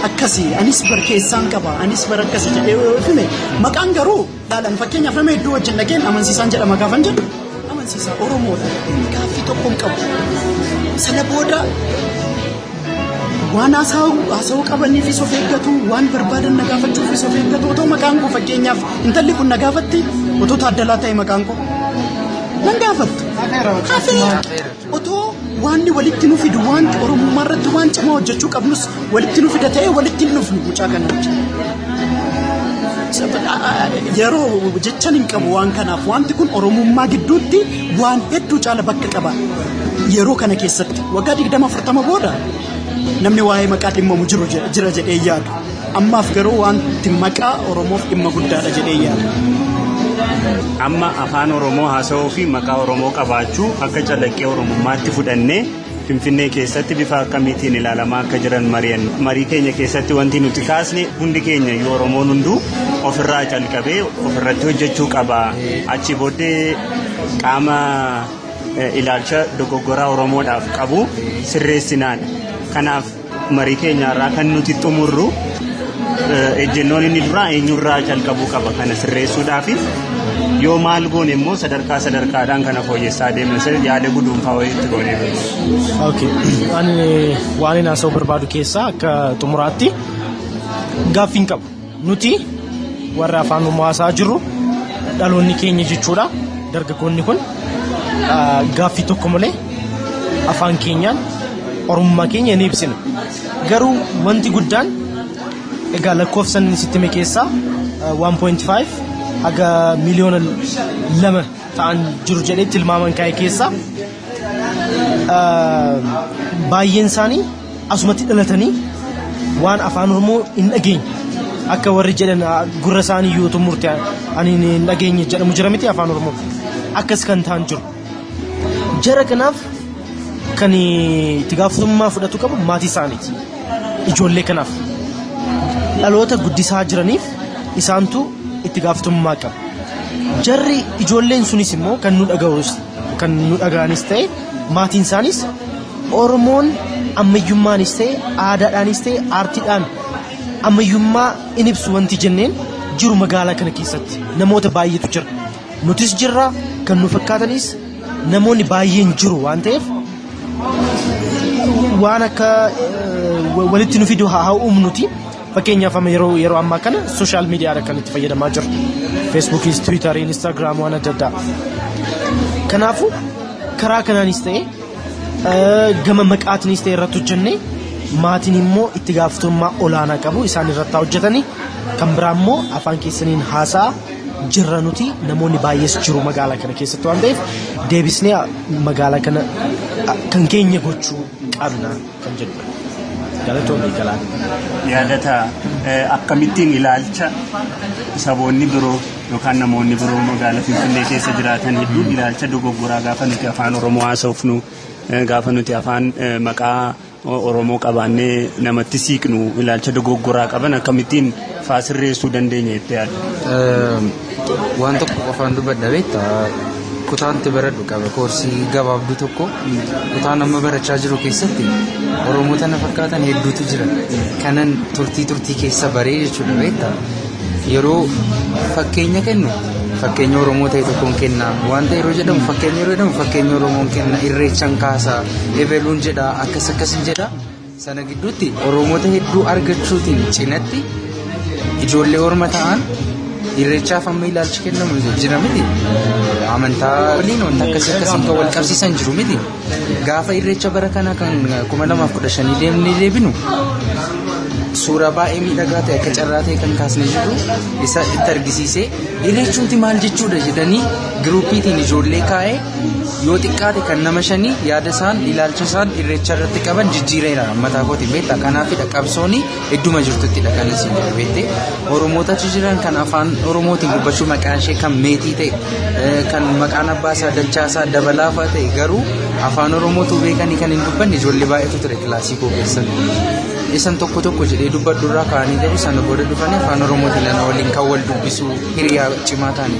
akkasii, anis bar keessaan qaba, anis bar akkasii jedhee yoo hime maqaan garuu dhaalan fakkeenyaaf nama hedduu wajjin dhageen amansiisaan jedhama gaafan jedhu amansiisaa Oromoodha. Inni gaaffii tokko hin qabu. Sana booda waan haasa'u haasa'uu qabaniifis of eeggatu, waan barbaadan na gaafachuufis of eeggatu. Otoo maqaan koo fakkeenyaaf intalli kun na gaafatti otoo taaddalaa ta'e maqaan koo nan gaafattu. Hafee Otoo waanni walitti nu fidu waanti Oromummaa irratti waan cimaa hojjechuu qabnus walitti nu fida ta'ee walitti hin dhufnu mucaa kana wajjin. Yeroo jechan hin qabu waan kanaaf wanti kun Oromummaa gidduutti waan hedduu caala bakka qaba. Yeroo kana keessatti waggaa digdama afurtama booda namni waa'ee maqaa dhimmamu jiru jira jedhee yaadu. Ammaaf garuu wanti maqaa Oromoof dhimma guddaadha jedhee yaada. Amma afaan Oromoo haasa'uu fi maqaa Oromoo qabaachuu akka calaqqee Oromummaatti fudhannee Finfinnee keessatti bifa akkamiitiin ilaalamaa akka jiran mari'an marii keenya keessatti wanti nuti kaasne hundi keenya iyyuu Oromoon hunduu ofirraa calqabee ofirratti hojjechuu qaba. Achi booddee qaama ilaalcha dogoggoraa Oromoodhaaf qabu sirreessinaan. Kanaaf Marii keenya irraa kan nuti xumurru ejjennoon inni duraa eenyurraa calqabuu qaba kana sirreessuudhaaf yoo maal goone immoo sadarkaa sadarkaadhaan kana fooyyessaa deemna isa yaada guduunfaa wayiitti goonee beekna. Okay. Ani waan inni haasa'uu barbaadu keessaa akka xumuraatti gaaffiin qabu. Nuti warri afaan Oromoo haasa'aa jirru dhaloonni keenya jechuudha. Dargaggoonni kun gaaffii tokko malee afaan keenyaan Oromummaa keenya ni ibsina. Garuu wanti guddaan egaa lakkoofsan sitti hime keessaa 1.5 haga miliyoona lama ta'an jiru jedhee tilmaaman kaa'e keessaa baay'een isaanii asumatti dhalatanii waan afaan oromoo hin dhageenye akka warri jedhan ah, gurra isaanii yoo tumurte ani hin dhageenye jedhamu jira miti afaan oromoo akkas kan ta'an jiru jara kanaaf kan eh, itti gaafatamummaa fudhatu qabu maatii isaaniiti ijoollee kanaaf dhaloota guddisaa jiraniif isaantu itti gaafatamummaa qaba jarri ijoolleen sunis immoo kan nu dhaga'us kan nu dhaga'anis ta'e maatiin isaaniis Oromoon ammayyummaanis ta'e aadaadhaanis ta'e aartiidhaan ammayyummaa in ibsu wanti jenneen jiru magaalaa kana keessatti namoota baay'eetu jira. Nutis jirra kan nu fakkaatanis namoonni baay'een jiru waan ta'eef waan akka walitti nu fidu haa uumnuti. Fakkeenyaaf amma yeroo yeroo ammaa kana sooshaal miidiyaadha kan itti fayyadamaa jiru. Feesbuukiis, Tiwiitarii, Inistaagiraam waan adda addaa. Kanaafuu karaa kanaanis ta'e gama maqaatinis ta'e irratti hojjennee maatiin immoo itti gaafatamummaa olaanaa qabu isaan irratti haa hojjetanii kan biraa immoo afaan keessaniin haasaa jirra nuti namoonni baay'ees jiru magaalaa kana keessatti waan ta'eef deebisnee magaalaa kana kan keenya gochuu qabna. kan jedhudha. Galatoomi Galaan. yaadata akkamittiin ilaalcha saboonni biroo yookaan namoonni biroo magaalaa Finfinnee keessa jiraatan hedduun ilaalcha dogoggoraa gaafa nuti afaan Oromoo haasofnu gaafa nuti afaan maqaa Oromoo qabaannee namatti siiqnu ilaalcha dogoggoraa qaban akkamittiin faasirreessuu dandeenya jettee yaadda? Waan tokko qofaan dubbadha beekta kutaan itti baradhu qaba koorsii gabaabduu tokko kutaan amma barachaa jiru keessatti oromoota na fakkaatan hedduutu jira kanan turtii turtii keessa baree jechuudha beekta yeroo fakkeenya kennu fakkeenya oromoo ta'e tokkoon kenna wanta yeroo jedhamu fakkeenya yeroo jedhamu fakkeenya oromoon kenna irreechan kaasa ebeluun jedha akkas akkasin jedha Sana gidduutti Oromoota hedduu argachuutiin cinatti ijoollee orma ta'an irreechaaf amma ilaalchi kennamu jira miti. Amantaa waliin wanta akkasii akkasiin kan wal qabsiisan jiru miti. Gaafa irreecha bara kana kan kuma lamaaf kudha shanii deemnee deebinu suuraa baay'ee miidhagaa ta'e akka carraa ta'e kan kaasnee jiru isa itti argisiisee irreechumti maal jechuudha jedhanii giruuppiitiin ijoollee kaa'ee yoo xiqqaate kan nama shanii yaada isaan ilaalcha isaan irreecha irratti qaban jijjiireera mataa kooti beekta kanaafidha qabsooni idduma jirtuttidha kan isin jedhu beekte oromoota achi jiran kan afaan oromootiin dubbachuu maqaan ishee kan meetii ta'e eh, kan maqaan abbaa isaa dachaa isaa dabalaafaa ta'e garuu afaan oromootu beekanii kan hin dubbanne ijoollee baay'eetu ture kilaasii koo keessatti. isan tokko tokko jedhee dubbadhu irraa kaanii garuu sana booda dhufanii afaan oromootiin lana waliin kan wal dubbisu hiriyaa cimaa ta'anii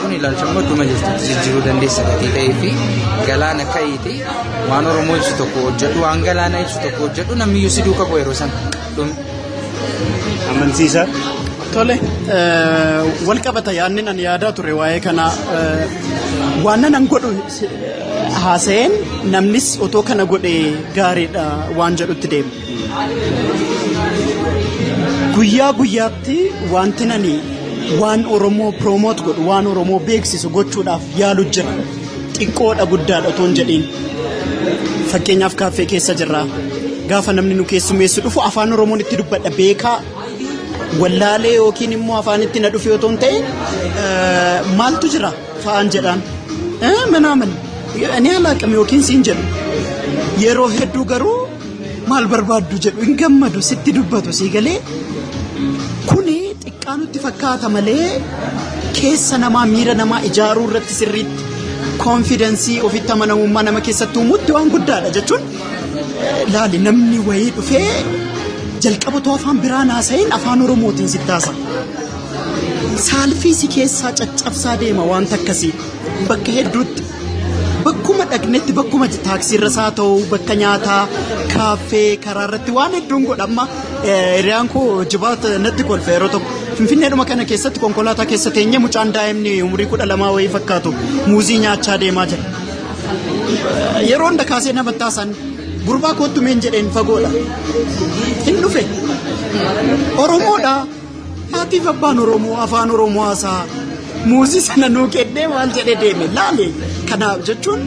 Kun ilaalcha immoo dhuma jirtu jijjiiruu dandeessa gatii ta'ee fi galaana ka'iiti waan Oromoo ibsu tokko hojjedhu waan galaana ibsu tokko hojjedhu namni iyyuu si duuka bu'a yeroo sana. Amansiisaa. Tole wal qabata yaadni nan yaadaa ture waa'ee kanaa waan nan godhu haasa'een namnis otoo kana godhe gaariidha waan jedhutti deema. Guyyaa guyyaatti wanti nani waan Oromoo piroomoot godhu waan Oromoo beeksisu gochuudhaaf yaalu jira. Xiqqoodha guddaadha otoo hin jedhiin. Fakkeenyaaf kaaffee keessa jirra. Gaafa namni nu keessummeessu dhufu afaan Oromoon itti dubbadha beekaa wallaalee yookiin immoo afaan itti na dhufe otoo hin ta'in maaltu jira fa'aan jedhaan. Manaa mana. Ani alaaqame yookiin siin jedhu. Yeroo hedduu garuu maal barbaaddu jedhu hin gammadu sitti dubbatu sii galee kuni xiqqaa nutti fakkaata malee keessa namaa miira namaa ijaaruu irratti sirriitti koonfidensii ofitti amanamummaa nama keessatti uumutti waan guddaadha jechuun laali namni wayii dhufee jalqaba too afaan biraa naasa'in afaan oromootiin sitti haasa. Saalfii si keessaa caccabsaa deema wanta akkasii bakka hedduutti. Bakkuma dhaqnetti bakkuma taaksiirra isaa ta'u bakka nyaataa kaaffee karaa irratti waan hedduun godhamma hiriyaan koo jibaata natti kolfe yeroo tokko finfinneedhuma kana keessatti konkolaataa keessa teenye mucaan daa'imni umurii kudha lamaa wayii fakkaatu muuzii nyaachaa deemaa jira. Yeroo hunda kaasee nama taasan gurbaa koottu meen jedheen fagoodha. Hin dhufe. Oromoodha. Maatiif abbaan Oromoo afaan Oromoo haasaa muuzii sana nuu kennee waan jedhee deeme laale. Kanaaf jechuun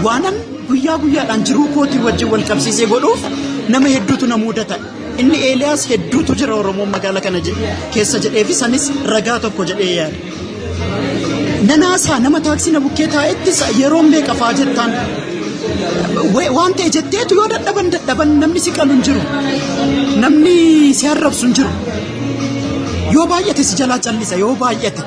waanan guyyaa guyyaadhaan jiruu kootii wajjin wal qabsiisee godhuuf nama hedduutu na mudata. Inni Eeliyaas hedduutu jira Oromoon magaala kana je- keessa jedhee fi sanis ragaa tokko jedhee yaada. Nanaasaa nama taaksii na bukkee taa'etti yeroo meeqa fa'aa jettaan waan ta'e jetteetu yoo dadhaban dadhaban namni si qalu hin jiru namni si arrabsu hin jiru yoo baay'ate si jalaa callisa yoo baay'ate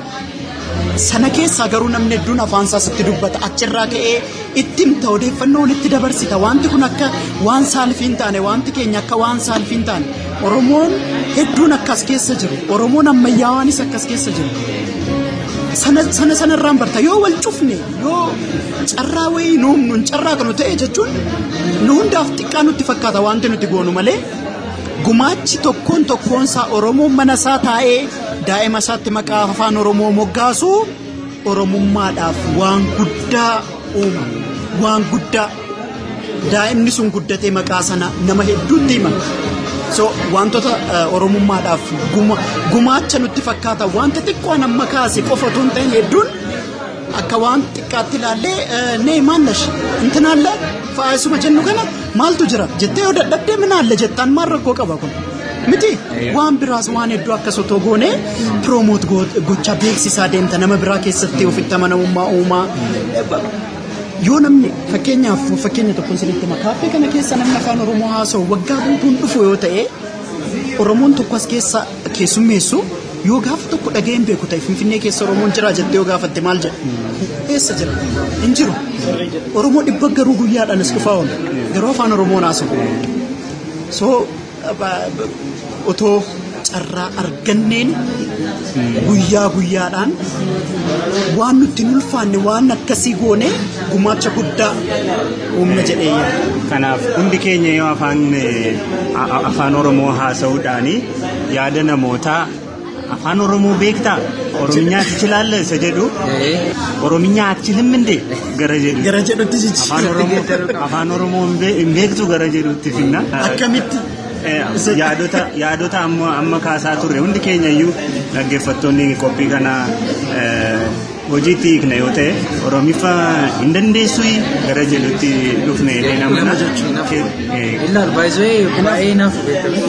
sana keessaa garuu namni hedduun afaansaa sitti dubbata achirraa ka'ee itti himta odeeffannoo walitti dabarsita wanti kun akka waan saalfii hin taane wanti keenya akka waan saalfii hin taane oromoon hedduun akkas keessa jiru oromoon ammayyaawaanis akkas keessa jiru sana sana sanarraan barta yoo wal cufne yoo carraa wayii nu humnuun carraa kanu ta'e jechuun nu hundaaf xiqqaa nutti fakkaata wanti nuti goonu malee gumaachi tokkoon tokkoon isaa oromoon mana isaa taa'ee daa'ima isaatti maqaa afaan oromoo moggaasu Oromummaadhaaf waan guddaa uuma. Waan guddaa. Daa'imni sun guddatee maqaa sana nama hedduutti hima. So wantoota eh, Oromummaadhaaf guma- gumaacha nutti fakkaata wanta xiqqoon amma kaase qofa otoo hin ta'in hedduun akka waan xiqqaatti ilaallee eh, nee maal nash intinaalle faayisuma jennu kana maaltu jira jettee yoo dadhabdee minaalle jettaan maal rakkoo qaba kun. miti waan biraas waan hedduu akkas otoo goone piroomoot gochaa beeksisaa deemta nama biraa keessatti ofitti amanamummaa uumaa yoo namni fakkeenyaaf fakkeenya tokkoon sinitti hima kaaffee kana keessa namni afaan oromoo haasa'u waggaa guutuun dhufu yoo ta'e oromoon tokko as keessa keessummeessu yoo gaafa tokko dhaga'een beeku ta'e finfinnee keessa oromoon jira jettee yoo gaafatte maal jedha eessa jira hin jiru oromoo dhibba garuu guyyaadhaan as dhufaa oolu garuu afaan oromoon haasa'u so otoo carraa arganneen guyyaa guyyaadhaan waan nutti hin ulfaanne waan akkasii goone gumaacha guddaa uumna jedhee yaada. Kanaaf hundi keenya yoo afaan eh, a- a- afaan Oromoo haasa'uudhaani yaada namootaa Afaan Oromoo beektaa? Oromiyaa ati chilaalla isa jedhu. Oromiyaa ati chilim indee gara jedhu. Gara jedhutti sichi. Afaan Oromoo Afaan Oromoo hin bee- hin beektu gara jedhutti finna. Akkamitti? Eh, yaadota yaadota amma amma kaasaa turre hundi keenya iyyuu dhaggeeffattoonni qophii kana eh, hojiitti hiikna yoo ta'e oromiffa hin dandeessu gara jedhutti dhufne jedhee nama Nama jechuun hinaafuu. Eh, Ilaa baay'ee baay'ee hinaafuu beekamu.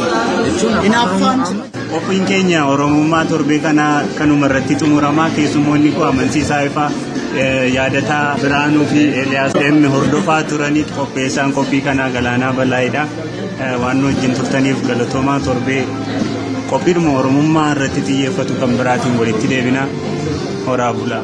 Jechuun afaan Hinaaffaan Oromoo amma- Qophiin keenya Oromummaa torbee kanaa kanuma irratti xumurama. Keessummoonni koo amansiisaa ifaa yaadataa Biraanuu fi Eeliyaas M hordofaa turanii qopheessaan qophii kanaa Galaanaa Balaayidha. Waan nu wajjin turtaniif galatoomaa torbee qophiidhuma Oromummaa irratti xiyyeeffatu kan biraatiin walitti deebina. Horaa bulaa.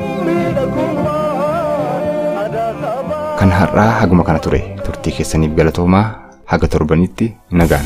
Kan har'aa haguma kana ture turtii keessaniif galatoomaa haga torbanitti nagaan.